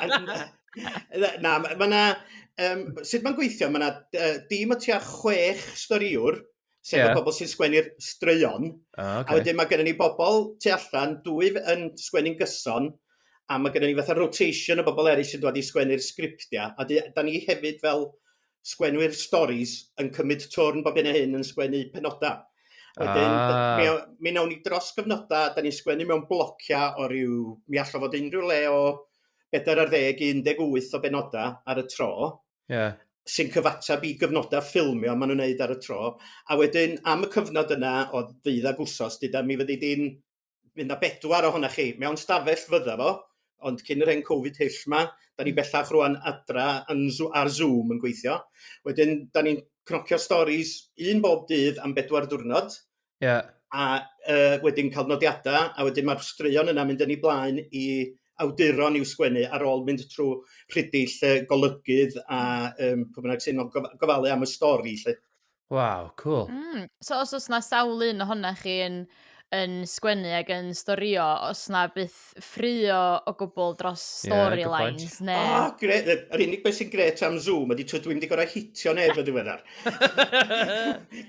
na, na, mae na... Um, sut mae'n gweithio? Mae na uh, dim o tua chwech storiwr, sef yeah. y bobl sy'n sgwennu'r straeon. Ah, okay. A wedyn mae gennym ni bobl tu allan, dwy yn sgwennu'n gyson, a mae gennym ni fatha rotation o bobl eraill sy'n dod i sgwennu'r sgriptiau. A da ni hefyd fel sgwenwyr storis yn cymryd twrn bob hyn a hyn yn sgwennu penodau. Wedyn, ah. mi, mi nawn ni dros gyfnodau, da ni'n sgwennu mewn blociau o ryw, mi allai fod unrhyw le o 4 ar 10 i 18 o benodau ar y tro. Yeah sy'n cyfateb i gyfnodau ffilmio maen nhw'n wneud ar y tro. A wedyn, am y cyfnod yna o ddydd ag wsos, dyda mi fyddi di'n fydd na bedwar ohona chi mewn stafell fydda fo, ond cyn yr hen Covid hyll ma, da ni bellach rwan adra yn, ar Zoom yn gweithio. Wedyn, da ni'n cnocio stories un bob dydd am bedwar diwrnod. Yeah. A uh, wedyn cael nodiadau, a wedyn mae'r straeon yna mynd yn ei blaen i awduron i'w sgwennu ar ôl mynd trwy rhidill uh, golygydd a um, pwy bynnag sy'n gofalu am y stori. Lle. Waw, cŵl. Mm, so os oes 'na sawl un ohona chi yn yn sgwennu ac yn storio, os 'na byth ffraeo o gwbl dros Ie, good point. storylines O, neu... gre- yy yr unig beth sy'n grêt am Zoom ydi tibod dwi'm 'di gorau hitio neb yn ddiweddar.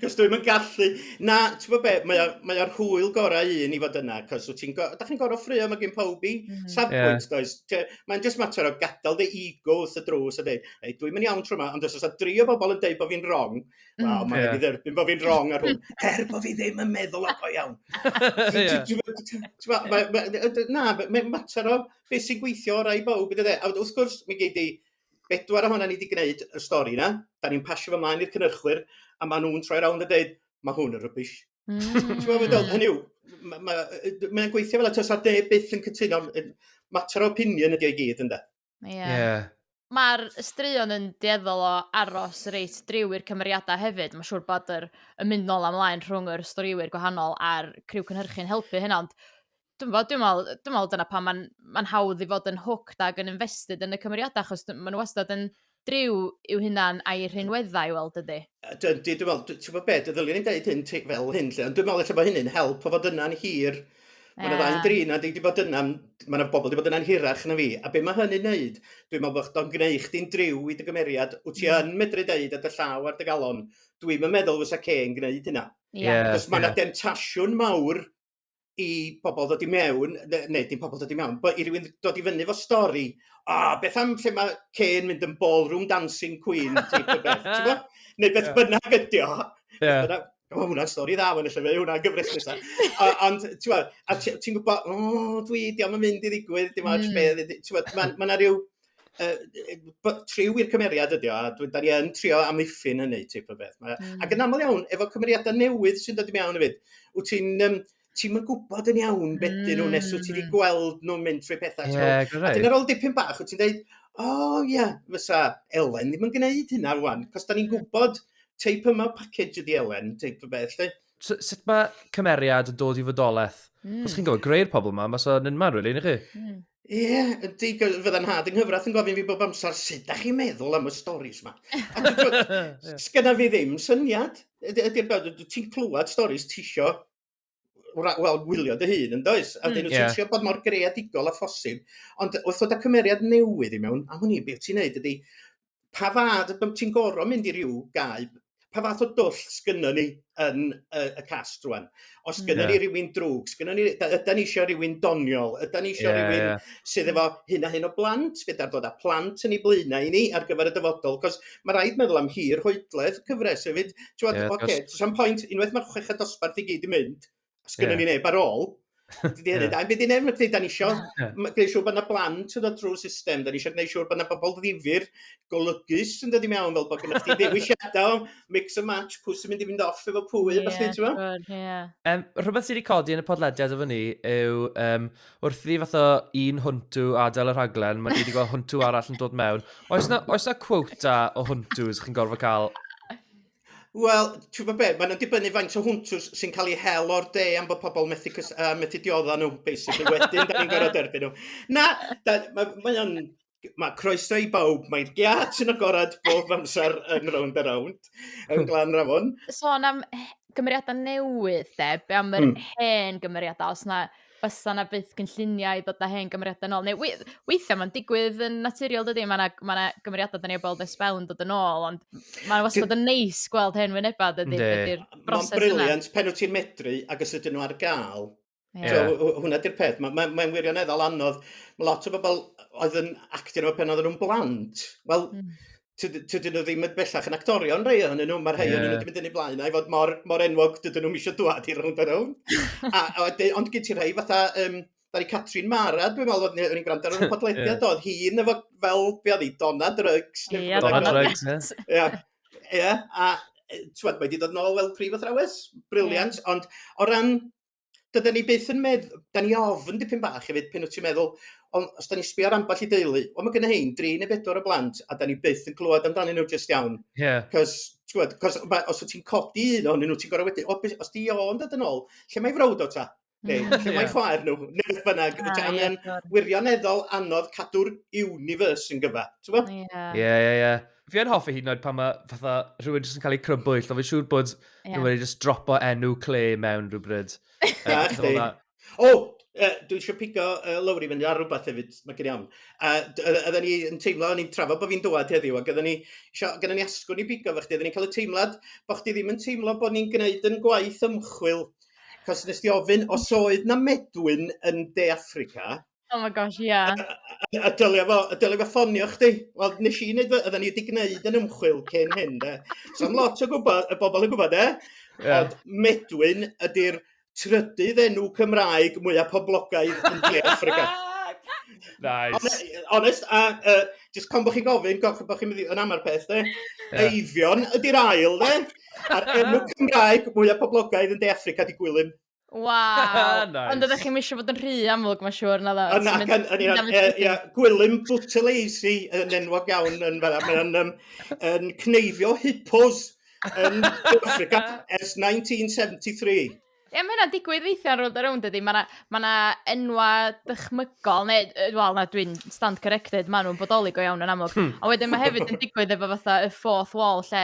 Cos dwi'm yn gallu. Na, t'bo' be', mae o mae o'r hwyl gorau un i fod yna, cos wt ti'n go- dach chi'n gor'o' ffraeo ma' gin powb 'i Mhm. Ie. safbwynt does? T- mae'n jyst mater o gadal dy ego wrth y drws a deud Hey, dwi'm yn iawn tro yma, ond os oes dri o bobl yn deud bod fi'n wrong, mm. wel, mae'n yeah. dderbyn bod fi'n wrong ar hwn, er bod fi ddim yn meddwl o iawn. Na, mae'n mater o beth sy'n gweithio o'r rai bawb, e? a wrth gwrs, mi gei di bedwar ohono ni wedi gwneud y stori yna, da ni'n pasio fy mlaen i'r cynhyrchwyr, a maen nhw'n troi rownd a dweud, mae hwn yn rybys. Mm. Hynny yw, mae'n gweithio fel y tysa de byth yn cytuno, mater o opinion ydi o'i gyd, ynddo? Ie. Ie. Ma'r straeon yn dueddol o aros reit driw i'r cymeriadau hefyd. Mae'n siŵr bod yr, y mynd nôl am laen rhwng yr storïwyr gwahanol a'r criw cynhyrchu'n helpu hynna, ond dwi'n bod, dwi'n meddwl, dwi'n meddwl dyna pan mae'n ma hawdd i fod yn hooked ac yn invested yn y cymeriadau, achos maen nhw wastad yn driw i'w hunan a'i rhinweddau i weld ydy. Dwi'n meddwl, ti'n gwybod beth, ddylen ni'n dweud hyn fel hyn, lle, ond dwi'n meddwl eich bod hynny'n help o fod yna'n hir Mae yna ddau yn drin, a dwi wedi bod yna, mae yna bobl wedi bod yna'n hirach na fi, a be mae hynny'n neud, dwi'n meddwl bod o'n gwneud chdi'n driw i dy gymeriad, wyt ti yn medru deud a dy llaw ar dy galon, dwi'n yn meddwl fysa Kane gwneud hynna. Yeah, Cos mae yna yeah. demtasiwn mawr i bobl ddod i mewn, ne- neu dim pobl ddod i mewn, but i rywun dod i fyny fo stori, a oh, beth am lle mae Kane mynd yn ballroom dancing queen, ti'n gwybod beth, ti'n gwybod? Neu beth yeah. bynnag ydi o. Yeah. o, hwnna'n stori dda, mae'n lle fe, hwnna'n gyfres nesaf. Ond, ti'n gwybod, a ti'n gwybod, o, dwi, di am yn mynd i ddigwydd, dim ond mm. beth, ti'n gwybod, mae yna rhyw, uh, triw i'r cymeriad ydi o, a dwi, da ni yn trio amddiffyn hynny, ti'n gwybod beth. Mm. Ac yn aml iawn, efo cymeriadau newydd sy'n dod i mewn hefyd, wyt ti'n, um, ti'm yn gwybod yn iawn beth mm. dyn nhw nes wyt ti wedi hmm. gweld nhw'n mynd trwy pethau. Yeah, so, a dyna'r ôl dipyn bach, wyt ti'n dweud, o oh, ie, yeah, fysa Elen ddim yn gwneud hynna rwan, cos da ni'n hmm. gwybod teip yma package ydi Elen, teip o beth, lle. So, sut mae cymeriad yn dod i fodolaeth? Mm. Os chi'n gwybod, greu'r pobl yma, mae so yn unman, rwy'n really, chi? Mm. Ie, ydy, fydda nhad yng nghyfraith yn gofyn fi bob amser, sut da chi'n meddwl am y storys yma? Sgynna fi ddim syniad. Ydy'r bawd, ti'n clywed storys tisio wel, gwylio dy hun yn does? A dyn nhw'n mm, yeah. bod mor greadigol a phosib. Ond wrth ddod â cymeriad newydd i mewn, am hynny, beth ti'n neud ydy, pa fath o... Ti'n gorfod mynd i ryw gae, pa fath o dwll sgynnon ni yn y, y cast rwan? Os hmm. gynnon yeah. ni rywun drwg, sgynnon ni, yda ni eisiau rhywun doniol, yda ni eisiau yeah, rhywun yeah. sydd efo hyn a hyn o blant, gyda'r dod â plant yn ei blaenau i ni ar gyfer y dyfodol, cos mae rhaid meddwl am hir hoedledd cyfres hefyd. Ti'n yeah, oce, okay, sa'n pwynt, unwaith mae'r chweched dosbarth i gyd i mynd, Os gyda yeah. ni neb ar ôl, Dydy hynny yeah. da. Bydd yn efo da ni eisiau gwneud siŵr bod yna blant yn dod drwy system, da ni eisiau gwneud siŵr bod yna bobl ddifur, golygus yn dod i mewn fel bod gyda chdi ddewisiadau, mix and match, pwy sy'n mynd i fynd off efo pwy, yeah, falle, ti'n meddwl? Yeah. Um, rhywbeth sydd wedi codi yn y podlediad efo ni yw um, wrth i fath o un hwntw adael y rhaglen, mae wedi gweld hwntw arall yn dod mewn. Oes na, oes na quota o hwntws chi'n gorfod cael Wel, ti'n gwybod be, mae'n dibynnu faint o hwntws sy'n cael ei hel o'r de am bod pobl methu, cys, uh, methu diodda nhw, basically, wedyn, da ni'n gorau derbyn nhw. Na, da, mae, mae o'n, mae croeso i bawb, mae'r giat yn agored bob amser yn rownd a rownd, yn hmm. glan rafon. Sôn am gymeriadau newydd, de, be am yr mm. hen gymeriadau, os na, bysa 'na byth gynlluniau i ddod â hen gymeriadau nôl, neu weithiau mae'n digwydd yn naturiol dydy, mae 'na ma' 'na gymeriadau 'dan ni 'di gweld ers sbel yn dod yn ôl, ond mae'n wastad yn neis gweld hen wynebau dydy, Yndi. be' 'di'r Mae'n broses yna. briliant pan wyt ti'n medru ac os ydyn nhw ar gael. Ie. So, hw- hw- hwnna di'r peth. Mae mae mae'n wirioneddol anodd. Mae lot o bobl oedd yn actio efo pan oedden nhw'n blant. Wel, hmm. tydyn nhw ddim yn bellach yn actorion rhai ohonyn nhw, mae'r rhai yeah. nhw wedi mynd yn ei blaen i fod mor, mor enwog dydyn nhw'n eisiau dwad i rownd a rownd. a, a, ond gyd ti rhai fatha, um, Dari Catrin Mara, dwi'n meddwl oedd ni'n gwrando ar y podlediad, yeah. oedd hi'n efo fel, be oedd hi, Donna Drugs. Ie, Donna Drugs, yes. Ie, ie, a ti'n mae wedi dod nôl fel prif athrawes, briliant, yeah. ond o ran dydan ni byth yn medd- 'dan ni ofn dipyn bach hefyd pan wt ti'n meddwl ond os 'dan ni'n sbio ar ambell i deulu, wel ma' gynna rhein dri neu bedwar o blant a 'dan ni byth yn clywed amdanyn nhw jyst iawn. Ie. Yeah. 'C'os t'wod 'c'os ma' os wt ti'n codi un ohonyn nhw ti'n gor'o' wedyn o be- os 'di o yn dod yn ôl, lle mae frawd o ta? Neu hmm. lle mae chwaer nhw? Neu beth bynnag. Ah, a mae'n wirioneddol anodd cadw'r universe yn gyfa. T'mo'? Ie. Ie ie ie. fi yn hoffi hyd yn oed pan mae fatha rhywun jyst yn cael ei crybwyll, ond fi'n siŵr bod yeah. nhw'n wedi jyst dropo enw cle mewn rhywbryd. o, uh, dwi eisiau pigo uh, lawr i fynd ar rhywbeth hefyd, mae gen i am. Uh, oedden ni yn teimlo, o'n i'n trafod bod fi'n dywed heddiw, ac oedden ni, gyda ni asgwn i bigo fe chdi, oedden ni'n cael y teimlad bod chdi ddim yn teimlo bod ni'n gwneud yn gwaith ymchwil, cos nes di ofyn, os oedd na medwyn yn De Africa, Oh my gosh, ie. Yeah. A, a, a dylio fo, a dylio fo ffonio chdi. Wel, nes i wneud, oedden ni wedi gwneud yn ymchwil cyn hyn, de. So, am lot o gwybod, y bobl yn gwybod, de. Yeah. Ond Medwyn ydy'r trydydd enw Cymraeg mwyaf poblogaidd yn De Africa. nice. Honest, a uh, just pan bod chi'n gofyn, gofyn bod chi'n mynd yn amar peth, de. Yeah. Eifion ydy'r ail, de. A'r enw Cymraeg mwyaf poblogaidd yn De Africa di Gwilym. Waw! nice. Ond ydych chi'n misio fod yn rhy amlwg, mae'n siŵr, na dda. Yna, gan, yn, ia, ia, ia, gwylym bwteleisi yn enwog iawn yn fel mae'n um, yn cneifio hippos yn Africa ers 1973. Ie, mae hynna'n digwydd weithiau rownd a rownd ydy. Mae yna ma enwa dychmygol, neu, wel, na, dwi'n stand corrected, maen nhw'n bodoli go iawn yn amlwg. Hmm. A wedyn mae hefyd yn digwydd efo fatha y fourth wall, lle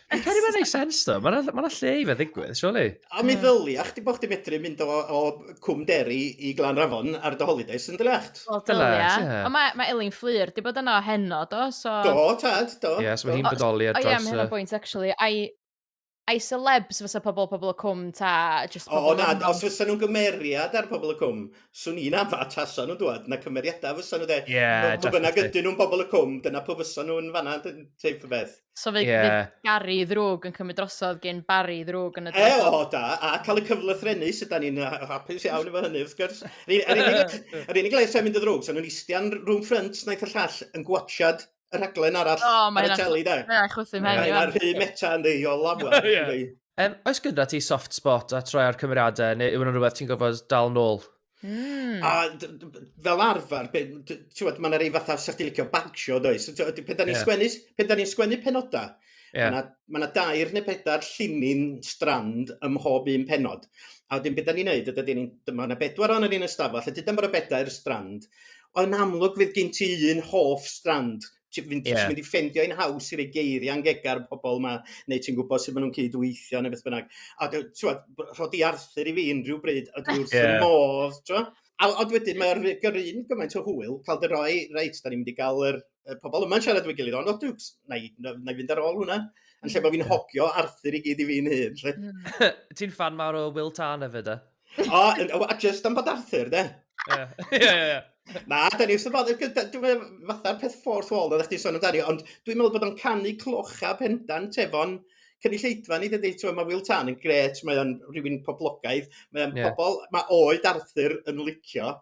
Dwi'n credu mae'n ei sens ddo, mae'n ma lle i fe ddigwydd, surely. A mi ddylia chdi bod chdi medru mynd o, o Cwm Deri i Glan Rafon ar dy holidays yn dyliacht. Wel, dylia. Ond mae, mae Elin Fflur, di bod yno heno, do? So... Do, tad, do. Ie, yeah, so mae hi'n bodoli ar dros... O ie, mae hynna'n bwynt, actually. I, I celebs fysa pobl pobl y cwm ta just pobl... O, na, os fysa nhw'n gymeriad ar pobl y cwm, swn i'n afa tasa nhw'n dwad, na cymeriadau fysa nhw de. Ie, yeah, definitely. Bynnag ydyn nhw'n pobl y cwm, dyna pwy fysa nhw'n fanna, teip y beth. So fe, yeah. fe Gary ddrwg yn cymryd drosodd gen Barry ddrwg yn y drosodd. E, o, da. A cael y cyfle threnu, sydd da ni'n hapus iawn efo hynny, wrth gwrs. Yr unig le sy'n mynd y ddrwg, sy'n nhw'n istian rhwng ffrynt, naeth y llall yn gwachad y rhaglen arall oh, ar y teli, da. Mae'n chwythu mewn. Mae'n rhy meta yn ddeio lawer. Um, oes gyda ti soft spot a troi'r cymeriadau, neu yw hwnna'n rhywbeth ti'n gofod dal nôl? Mm. A fel arfer, ti'n mae'n rei fatha sa'ch ti'n licio bagsio, does? Pan da ni'n yeah. sgwennu, pan da ni'n sgwennu penodau, yeah. mae yna ma dair neu bedair llinyn strand ym mhob un penod. A wedyn beth da ni'n neud, ydy ni'n, mae yna bedwar o'n ni'n ystafell, a dyda mae'r bedair strand, ond yn amlwg fydd gen ti un hoff strand Ti'n mynd, yeah. mynd i ffendio un haws i roi geiriau yn gegar pobl yma, neu ti'n gwybod sut maen nhw'n cyd-weithio neu beth bynnag. A ti'n rhod i Arthur i fi unrhyw bryd, a dwi wrth yeah. modd, ti'n A ond wedyn mae'r gyrru yn gymaint o hwyl, cael dy roi, reit, da ni'n mynd i gael yr, y pobl yma'n siarad dwi'n gilydd, ond o, dwi'n, na i, na, na i fynd ar ôl hwnna. Yn lle bod fi'n hogio Arthur i gyd i fi'n hyn. Hmm. Ti'n fan mawr o Will Tarn hefyd, e? O, a just am bod Arthur, de? Ie, ie, ie. Na, da ni wrth y bodd, dwi'n meddwl fatha'r peth ffordd wall oeddech chdi sôn amdani, ond dwi'n meddwl bod o'n canu clocha pendant efo'n cynulleidfa ni, dydy, ti'n mae Will Tan yn gret, mae o'n rhywun poblogaidd, mae o'n yeah. pobl, mae oed Arthur yn licio,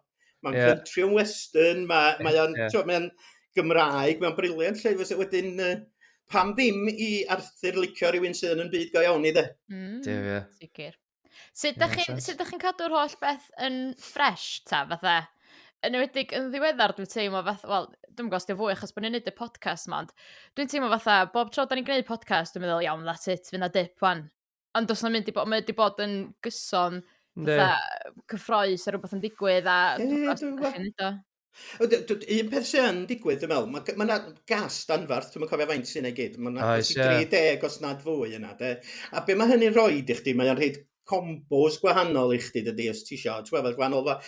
mae'n yeah. country and western, mae, yeah. mae o'n, yeah. mae o'n Gymraeg, mae'n briliant lle, fes wedyn, uh, pam ddim i Arthur licio rhywun sydd yn byd go iawn i dde? Mm, Sicr. Sut ydych chi'n chi, chi cadw'r holl beth yn ffres, ta, fatha? Yn ymwedig yn ddiweddar, dwi'n teimlo fatha, wel, dwi'n gwybod os dwi'n fwy achos bod ni'n neud y podcast ma, ond dwi'n teimlo fatha, bob tro da ni'n gwneud podcast, dwi'n meddwl, iawn, that's it, fyna dip wan. Ond os na mynd i bod, mae wedi bod yn gyson, fatha, cyffroes a rhywbeth yn digwydd, a dwi'n gwybod os dwi'n gwybod. O, d- d- d- un peth sy'n yn digwydd, dwi'n meddwl, mae ma yna gas danfarth, dwi'n cofio faint sy'n ei gyd, mae yna Oes, gas i ie. 30 os nad fwy yna, de. A be mae hynny'n rhoi i chdi, mae'n rhaid combos gwahanol i chdi, dydy, os ti eisiau, ti'n gweld, gwahanol fa-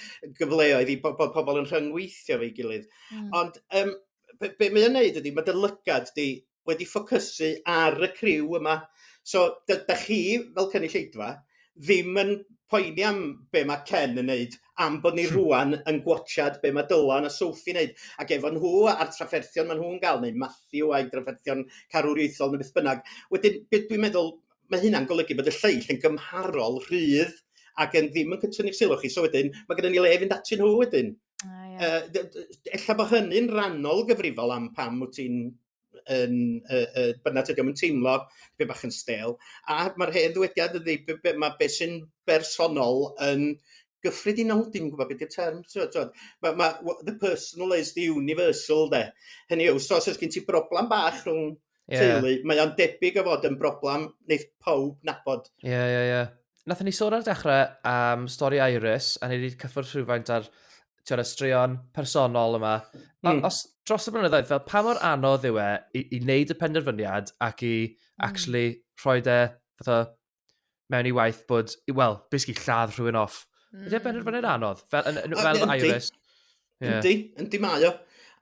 gyfleoedd i bo- bod pobl yn rhyngweithio fe'i gilydd. Mm. Ond um, be, be mae'n neud ydy, mae dy lygad di wedi ffocysu ar y criw yma. So, da, da chi, fel cynulleidfa, ddim yn poeni am be mae Ken yn neud, am bod ni hmm. rwan yn gwachad be mae Dylan a Sophie yn neud, ac efo nhw a'r trafferthion maen nhw'n gael, neu Matthew a'i drafferthion carwriaethol neu beth bynnag. Wedyn, dwi'n meddwl, mae hynna'n golygu bod y lleill yn gymharol rhydd ac yn ddim yn cytunu'ch sylw chi. So wedyn, mae gennym ni le fynd atyn nhw wedyn. A ie. Yy dy- dy- dy- ella bo hynny'n rannol gyfrifol am pam wt ti'n yn yy yy bynna tydi o'm yn teimlo dipyn bach yn stêl a ma'r hen ddywediad ydi be' be' ma' be' sy'n bersonol yn gyffredinol dim gwbod be' 'di'r term t'wo' t'wo' ma' ma' w- the personal is the universal 'de hynny yw so os o's gin ti broblam bach rhwng yeah. teulu. Mae o'n debyg o fod yn broblem wneud pawb nabod. Ie, yeah, ie, yeah, ie. Yeah. Nath ni sôn ar y dechrau am um, stori Iris, a ni wedi cyffwrdd rhywfaint ar tiwr y straeon personol yma. Mm. Os dros y blynyddoedd, fel pa mor anodd yw e i, i wneud y penderfyniad ac i mm. actually rhoi de fatha mewn i waith bod, wel, basically lladd rhywun off. Mm. Ydy e'n rhan anodd, fel, yn, yn, fel yn Iris. Yndi, yndi mae o.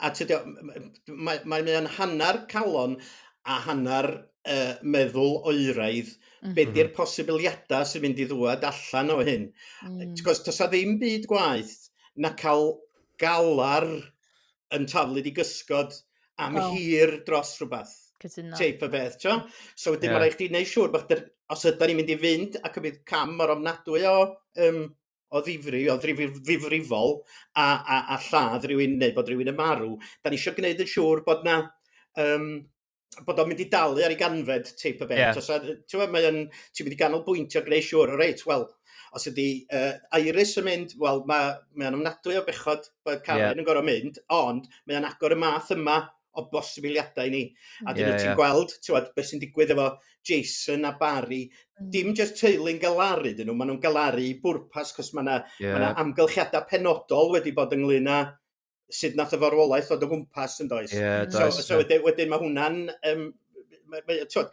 A ti'n dweud, mae, mae mae'n hanner calon a hanner uh, meddwl oeraidd, mm. be di'r mhm. posibiliadau sy'n mynd i ddwad allan o hyn. Mm. Cos does ddim byd gwaith na cael galar yn taflu di gysgod am oh. hir dros rhywbeth. Cytuno. Teip o beth, tio? So wedyn yeah. mae rhaid chdi wneud siŵr bod yr, os ydy ni'n mynd i fynd ac y bydd cam o'r ofnadwy o, um, o ddifri, o ddifrifol, a, a, a lladd rhywun neu bod rhywun yn marw, da ni eisiau gwneud yn siŵr bod na um, bod o'n mynd i dalu ar ei ganfed teip o beth. Yeah. Os, ti'n mynd, mae'n, ti'n mynd i ganolbwyntio greu siwr, o reit, wel, os ydy uh, Iris yn mynd, wel, mae, mae o'n ymnadwy o bechod bod Karen yeah. yn gorau mynd, ond mae o'n agor y math yma o bosibiliadau i ni. A dyn yeah, nhw ti'n yeah. gweld, ti'n gweld, beth sy'n digwydd efo Jason a Barry, mm. dim jyst teulu'n galaru dyn nhw, maen nhw'n galaru i bwrpas, cos mae yna yeah. ma amgylchiadau penodol wedi bod ynglyn â sut nath y farwolaeth fod o gwmpas yn does? Yeah, so, does so, wedyn, wedyn mae hwnna'n... Um, so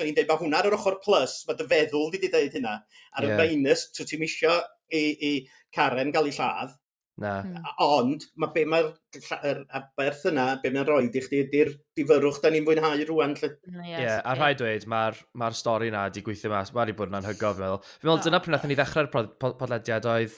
i'n dweud, mae hwnna ar yr ochr plus, mae dy feddwl wedi dweud hynna. Ar yeah. y minus, so ti'n misio i, i Karen gael ei lladd. Na. Hmm. Ond mae be mae'r er, aberth yna, be mae'n rhoi i chdi ydy'r difyrwch da ni'n fwynhau rwan. Lle. Mm, ie, yeah, a rhaid dweud, mae'r ma stori yna wedi gweithio mas, mae wedi bod yn anhygoel, fi'n meddwl. Fi'n meddwl, dyna pryd nath ni ddechrau'r podlediad oedd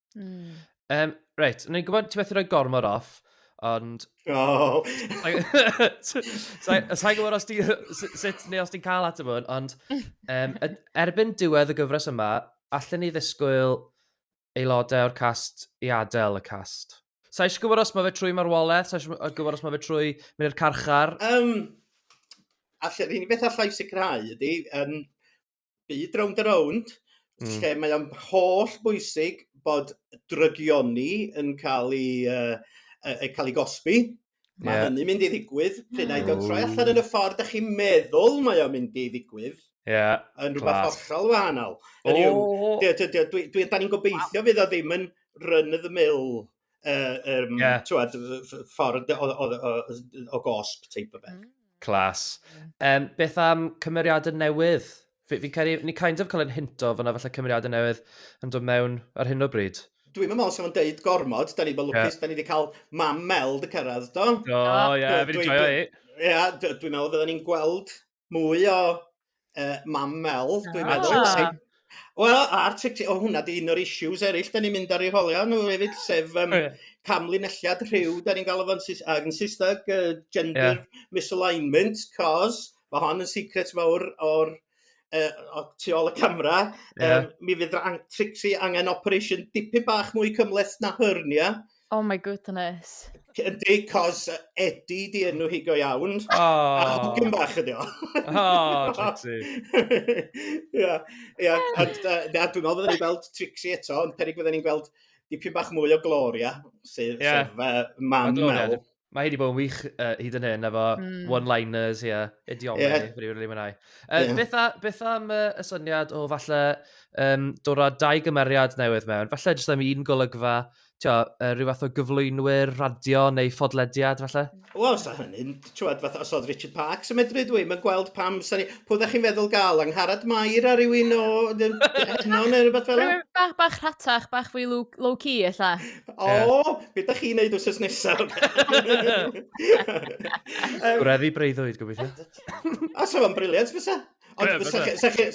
Mm. Um, reit, ni'n gwybod ti methu rhoi gormod off, ond... Oh. Sa'n gwybod os ti'n... sut neu os ti'n cael at y mwyn, ond um, erbyn diwedd y gyfres yma, allan ni ddisgwyl aelodau o'r cast i adael y cast. Sa'n eisiau gwybod os mae fe trwy marwolaeth, sa'n eisiau gwybod os mae fe trwy mynd i'r carchar. Um, allan, un beth allai sicrhau ydy, um, byd rownd a rownd mm. lle mae o'n holl bwysig bod drygioni yn cael ei, uh, uh, cael ei gosbi. Mae yeah. hynny'n mynd i ddigwydd. Pryd na i gael troi allan yn y ffordd ych chi'n meddwl mae o'n mynd i ddigwydd. Yeah, yn rhywbeth hollol wahanol. Oh. Dwi, dwi, dwi, dwi, da ni'n gobeithio fydd o ddim yn run of the mill uh, um, yeah. twad, ffordd o, o, o, o gosp teip o beth. Mm. Clas. Um, beth am cymeriadau newydd? Fi'n fi cael ni kind of cael ein hinto fyna falle cymeriadau newydd yn dod mewn ar hyn o bryd. Dwi'n meddwl sef o'n deud gormod, da ni bod lwcus, yeah. da ni wedi cael mam Mel dy cyrraedd, do? O, ie, fi'n joio i. Ie, dwi'n meddwl fydden ni'n gweld mwy o uh, mam Mel, dwi'n ah. meddwl. Ah. Wel, a'r tic-tic, o hwnna di un o'r issues eraill, da ni'n mynd ar ei holio nhw hefyd, sef um, camlinelliad rhyw, da ni'n gael efo'n yn Saesneg, uh, gender yeah. misalignment, cos mae hon yn secret fawr o'r uh, tu ôl y camera, yeah. um, mi fydd Trixie angen operation dipyn bach mwy cymleth na hernia, yeah Oh my goodness. Ydy, cos Eddie di enw hi go iawn. Oh. A hogyn bach ydi o. Oh, Trixie. Ia, ia. Ond, uh, na, dwi'n meddwl fydden ni'n gweld Trixie eto, ond perig fydden ni'n gweld dipyn bach mwy o Gloria, sef, yeah. sef uh, mam Mel. Mae hi wedi bod yn wych uh, hyd yn hyn, efo mm. one-liners, ie, yeah, idiomau, yeah. wedi rili mwynhau. Uh, yeah. beth, a, beth am uh, y syniad o falle um, dod â dau gymeriad newydd mewn? Falle jyst am un golygfa, tio, uh, rhyw fath o gyflwynwyr, radio neu ffodlediad, falle? Wel, os da hynny'n, ti'n fath os oedd Richard Parks yn medru dwi, mae'n gweld pam, sani, pwy ddech chi'n feddwl gael, angharad mair ar rywun o heno neu rhywbeth fel yna? Bach, bach rhatach, bach fwy low-key, illa. O! Be da chi'n neud wrth nesaf? Gwreddi breuddwyd, gobeithio. A sef o'n briliant fysa. Ond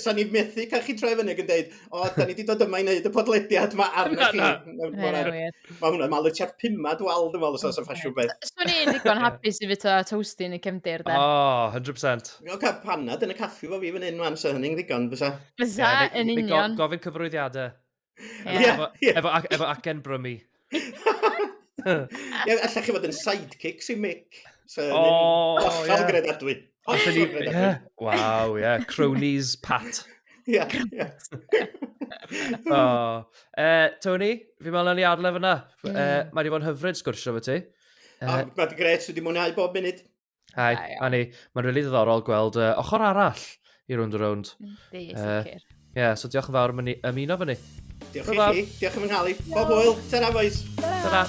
sa ni methu cael chi troi fyny ac yn dweud, o, da ni wedi dod yma i wneud y podlediad yma arna chi. Mae hwnna'n malu tua'r pumad wal, dwi'n meddwl, os o'r ffasiwn beth. Swn i'n ddigon hapus i fito toasty yn y cefndir, da. O, 100%. O, cael panad yn y caffi fo fi fan hyn, man, so hynny'n ddigon, fysa. Fysa, yn union. Gofyn cyfrwyddiadau. Yeah. Efo, efo, efo acen brymu. Ie, allech chi fod yn sidekick sy'n mic. So, oh, hollol yeah. gredadwy. Hollol gredadwy. Waw, ie. Cronies Pat. Ie, ie. oh. uh, Tony, fi meddwl ni arle fyna. Uh, mae wedi bod yn hyfryd sgwrsio fo ti. Uh, oh, Mae'n gret, wedi mwynhau bob munud. Hai, Hai Annie. Mae'n rili really ddiddorol gweld uh, ochr arall i rwnd y rwnd. Di, uh, sicr. Ie, yeah, so diolch yn fawr am ymuno fyny. Diolch i chi, diolch yn fy nghael i. Bob hwyl, ta-ra boys. Ta-ra.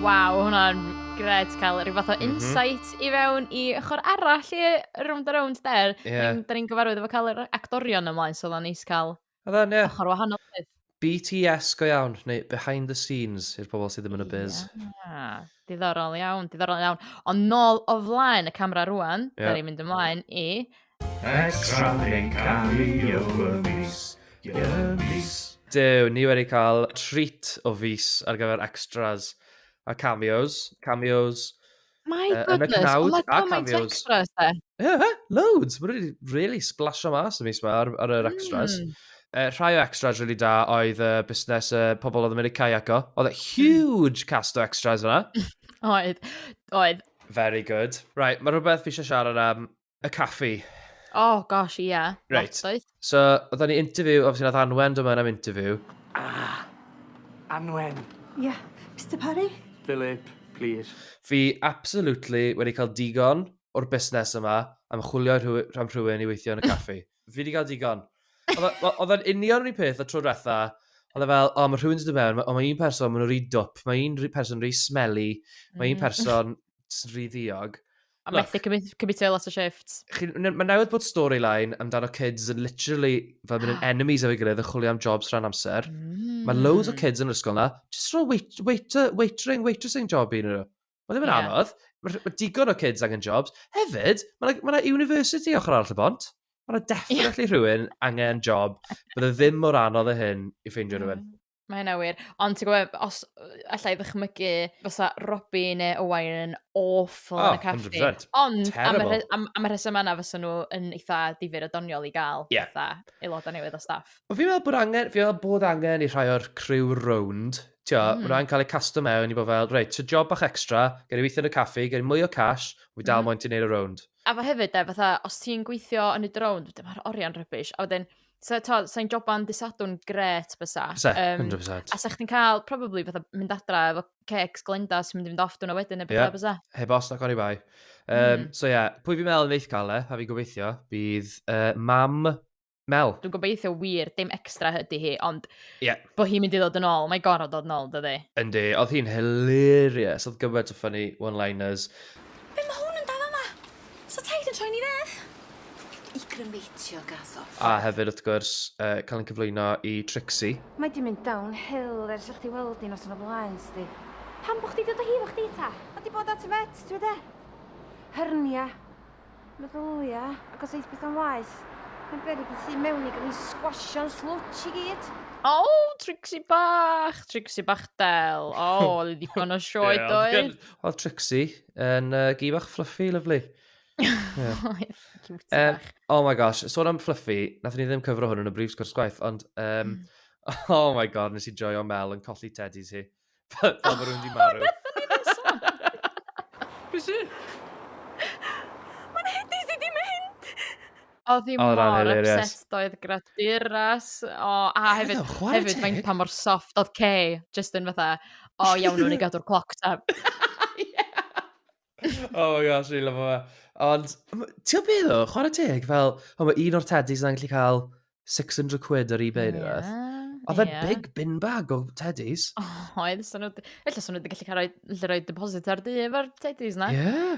Waw, hwnna'n gred cael rhyw fath o mhm. insight mm -hmm. i fewn i ochr arall i rownd a rownd der. Yeah. Da ni'n gyfarwydd efo cael yr actorion ymlaen, so dda'n neis cael Oedd e'n, ie. Ochr wahanol oedd. BTS go iawn, neu behind the scenes i'r pobl sydd ddim yn y biz. Ia, diddorol iawn, diddorol iawn. Ond nôl o flaen y camera rwan, yeah. da ni'n mynd ymlaen i... Extra yn cario y mis, y mis. Dew, ni wedi cael treat o fus ar gyfer extras a cameos. Cameos My Yy, yn y goodness, cnawd ma' a gymaint o cameos. extras 'de? Ie, ie, loads! Mae wedi really splasio mas y mis yma ar, ar yr extras. Mm. Uh, rhai o extras really da oedd uh, busnes uh, pobl oedd yn mynd i caiaco. Oedd e huge cast o extras yna. Oedd, oedd. Very good. Right, mae rhywbeth fi eisiau siarad am y caffi. Oh gosh, ie. Yeah. Right. So, oedden ni interview, obviously nath Anwen dyma am interview. Ah, Anwen. Ie, yeah. Mr Parry. Philip, please. Fi absolutely wedi cael digon o'r busnes yma am chwilio rhan rhywun i weithio yn y caffi. Fi wedi cael digon. Oedd yn union rhywun peth y tro diwetha, oedd e fel, o, mae rhywun sydd wedi mewn, ond mae un person, maen nhw'n rhy dwp, mae un person rhy smelly, mae un mm. person rhy ddiog. A Look. methu cymryd, cymryd lot o shifts. Chi- n- Mae newydd bod storyline amdano kids yn literally fel mynd yn enemies efo'i gilydd yn chwilio am jobs rhan amser. Mm. Mae loads o kids yn yr ysgol na, just rhoi wait, waiter, waitering, waitressing job i nhw. Mae ddim yn Ie. anodd. Mae ma digon o kids angen jobs. Hefyd, mae yna ma university ochr arall y bont. Mae yna definitely rhywun angen job. Bydd e ddim mor anodd o hyn i ffeindio rhywun. Mae hynna wir. Ond ti'n gwybod, os allai ddychmygu fysa Robbie neu Owain yn awful oh, yn y caffi. 100%. Ond am y, am, am y rheswm yna fysa nhw yn eitha difyr o doniol i gael yeah. eitha aelodau newydd o staff. Ond fi'n meddwl bod angen, fi'n meddwl bod angen i rhai o'r criw rownd Tio, mm. maen nhw'n cael eu casto mewn i bod fel, reit, ti'n job bach extra, gen i weithio yn y caffi, gen i mwy o cash, fi dal mm. moyn ti'n neud y rownd. A fe hefyd, e, fatha, os ti'n gweithio yn y rownd, dyma'r oriau'n rybys. A wedyn, So, to, sa'n joban disadwn gret bysa. Bysa, um, 100%. A sa chdi'n cael, probably, fatha mynd adra efo cecs glenda sy'n mynd i fynd off dwna wedyn neu beth yeah. bysa. Heb os na cori bai. Um, mm. So ie, yeah, pwy fi'n meddwl yn eith cael e, a fi'n gobeithio, bydd uh, mam Mel. Dwi'n gobeithio wir, dim extra hydy hi, ond yeah. bod hi'n mynd i ddod yn ôl, mae gorau dod yn ôl, dydy. Yndi, oedd hi'n hilarious, oedd gyfod o ffynnu one-liners. Be mae hwn yn dal yma? So taid yn troi ni fedd? I grymeitio gaddo. A hefyd wrth gwrs, yy cael ein cyflwyno i Trixie. Mae di mynd down hill ers i chdi weld hi noson o blaen, sdi. Pam bo chdi dod o hi efo chdi ta? Mae di bod at y vet, ti wed e? Hernia. Meddylia, ac os eith beth o'n waeth. Mae'n beryg i tu mewn i gael ei sgwasio'n slwtch i gyd. O, oh, Trixie bach, Trixie bach del. O, oh, ddigon o sioed oedd. Oedd Trixie, Yn uh, gi bach fluffy, lyflu. yeah. um, oh my gosh, sôn am fluffy, nath ni ddim cyfro hwn yn y brif sgwrs gwaith, ond um, mm. oh my god, nes i joio Mel yn colli teddies hi. Fel oh, mae rhywun di marw. Be si? Mae'n hedi si di mynd! Odd 'i Odd wnna'n mor hilarious. upset doedd gyda Duras o a Oedd hefyd o, chwarae hefyd faint teg. pa mor soft odd Kay jyst yn fatha o iawn newn ni gadw'r cloc ta. Oh my gosh, dwi'n lyfo fe. Ond, m- ti'n gwybod beth o, chwarae teg, fel, o, mae un o'r teddys yna'n gallu cael 600 quid ar eBay neu rhywbeth. Oedd e'n big bin bag o teddys. Oedd, so nhw... Felly, so nhw wedi gallu cael rhoi, gallu rhoi deposit ar du efo'r teddies na? Ie.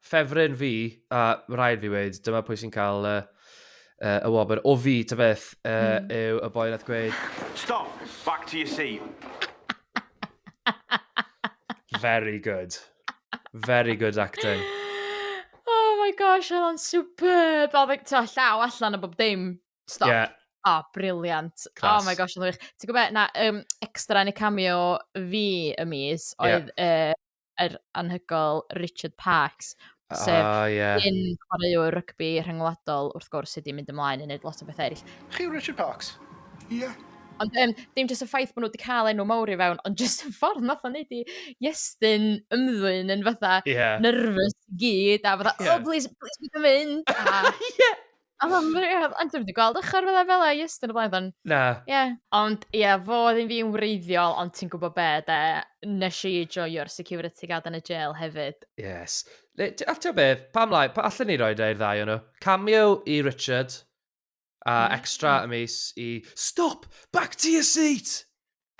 Ffefryn fi, a rhaid fi weid, dyma pwy sy'n cael uh, uh, y wobr. O fi, ta beth, uh, mm. yw y boi nath gweud... Stop! Back to your seat. Very good. Very good acting. Oh my gosh, oedd o'n superb. Oedd o'n e, llaw allan o bob dim. Stop. Yeah. Oh, briliant. Oh my gosh, oedd o'n wych. Ti'n gwybod, na, um, extra yn y cameo fi y mis oedd yeah. uh, yr anhygoel Richard Parkes, sef... O, ie. ...un chwaraewr rygbi rhyngwladol, wrth gwrs, sydd wedi mynd ymlaen i wneud lot o bethau eraill. Chi Richard Parkes? Ie. Ond um, dim jyst y ffaith bod nhw wedi cael enw mawr i fewn, ond jyst y ffordd nath o'n neud i Iestyn ymddwyn yn fatha yeah. nervous gyd, a fatha, yeah. oh, please, please, beth yn mynd? Ie! O, mae'n rhaid. Ond dwi'n wedi gweld ochr fel fel e, ys, dyn y blaen. Na. Ie. Yeah. Ond, ie, yeah, fo oedd yn fi'n wreiddiol, ond ti'n gwybod be, de, nes i joio'r security guard yn y jail hefyd. Yes. A ti'n be, pam lai, pa allan ni roi da i'r ddau o'n nhw? Cameo i Richard, a mm. extra y mis i... Stop! Back to your seat!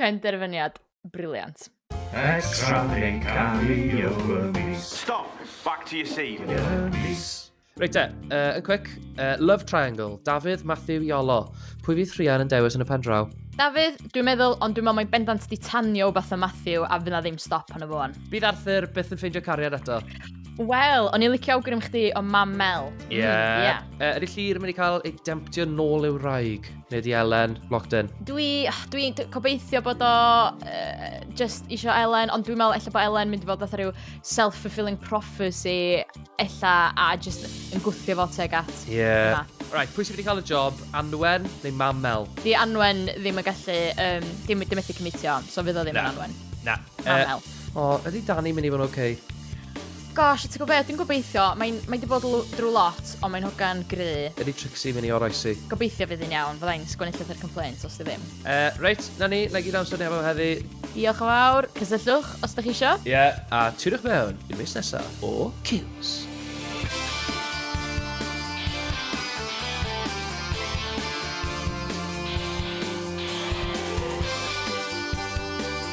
Penderfyniad briliant. Extra yn cario y mis. Stop! Back to your seat. Y mis. Reit te, uh, yn quick. Uh, love Triangle, Dafydd, Matthew, Iolo. Pwy fydd Rhian yn dewis yn y pen draw? Dafydd, dwi'n meddwl, ond dwi'n meddwl mae'n bendant di tanio beth o Matthew a fydd na ddim stop yn y fôn. Bydd Arthur byth yn ffeindio cariad eto. Wel, o'n i'n licio awgrym chdi o mam Mel. Ie. Mm, yeah. yeah. Uh, ydy Llyr yn mynd i cael ei demptio nôl i'w raig? Neu di Elen, locked in. Dwi, dwi gobeithio bod o uh, just eisiau Elen, ond dwi'n meddwl efallai bod Elen mynd i fod fatha rhyw self-fulfilling prophecy ella a just yn gwthio fo teg at. Yeah. Right, pwy sydd wedi cael y job? Anwen neu Mam Mel? Di Anwen ddim yn gallu, um, dim, dim methu cymitio, so fydd o ddim yn Anwen. Na. Mam uh, Mel. O, oh, ydy Danny mynd i fod yn oce? Okay? Gosh, ti'n gwybod be, dwi'n gobeithio, mae'n mae di bod drwy lot, ond mae'n hogan gry. Ydy Trixie mynd i oroesi? Gobeithio fydd hi'n iawn, fydda i'n sgwennu llythyr complaint os di ddim. Uh, reit, na ni, na gyd amser ni efo heddi. Diolch yn fawr, cysylltwch os ydych chi isio. Ie, yeah, a tiriwch mewn i mis nesaf o Kills.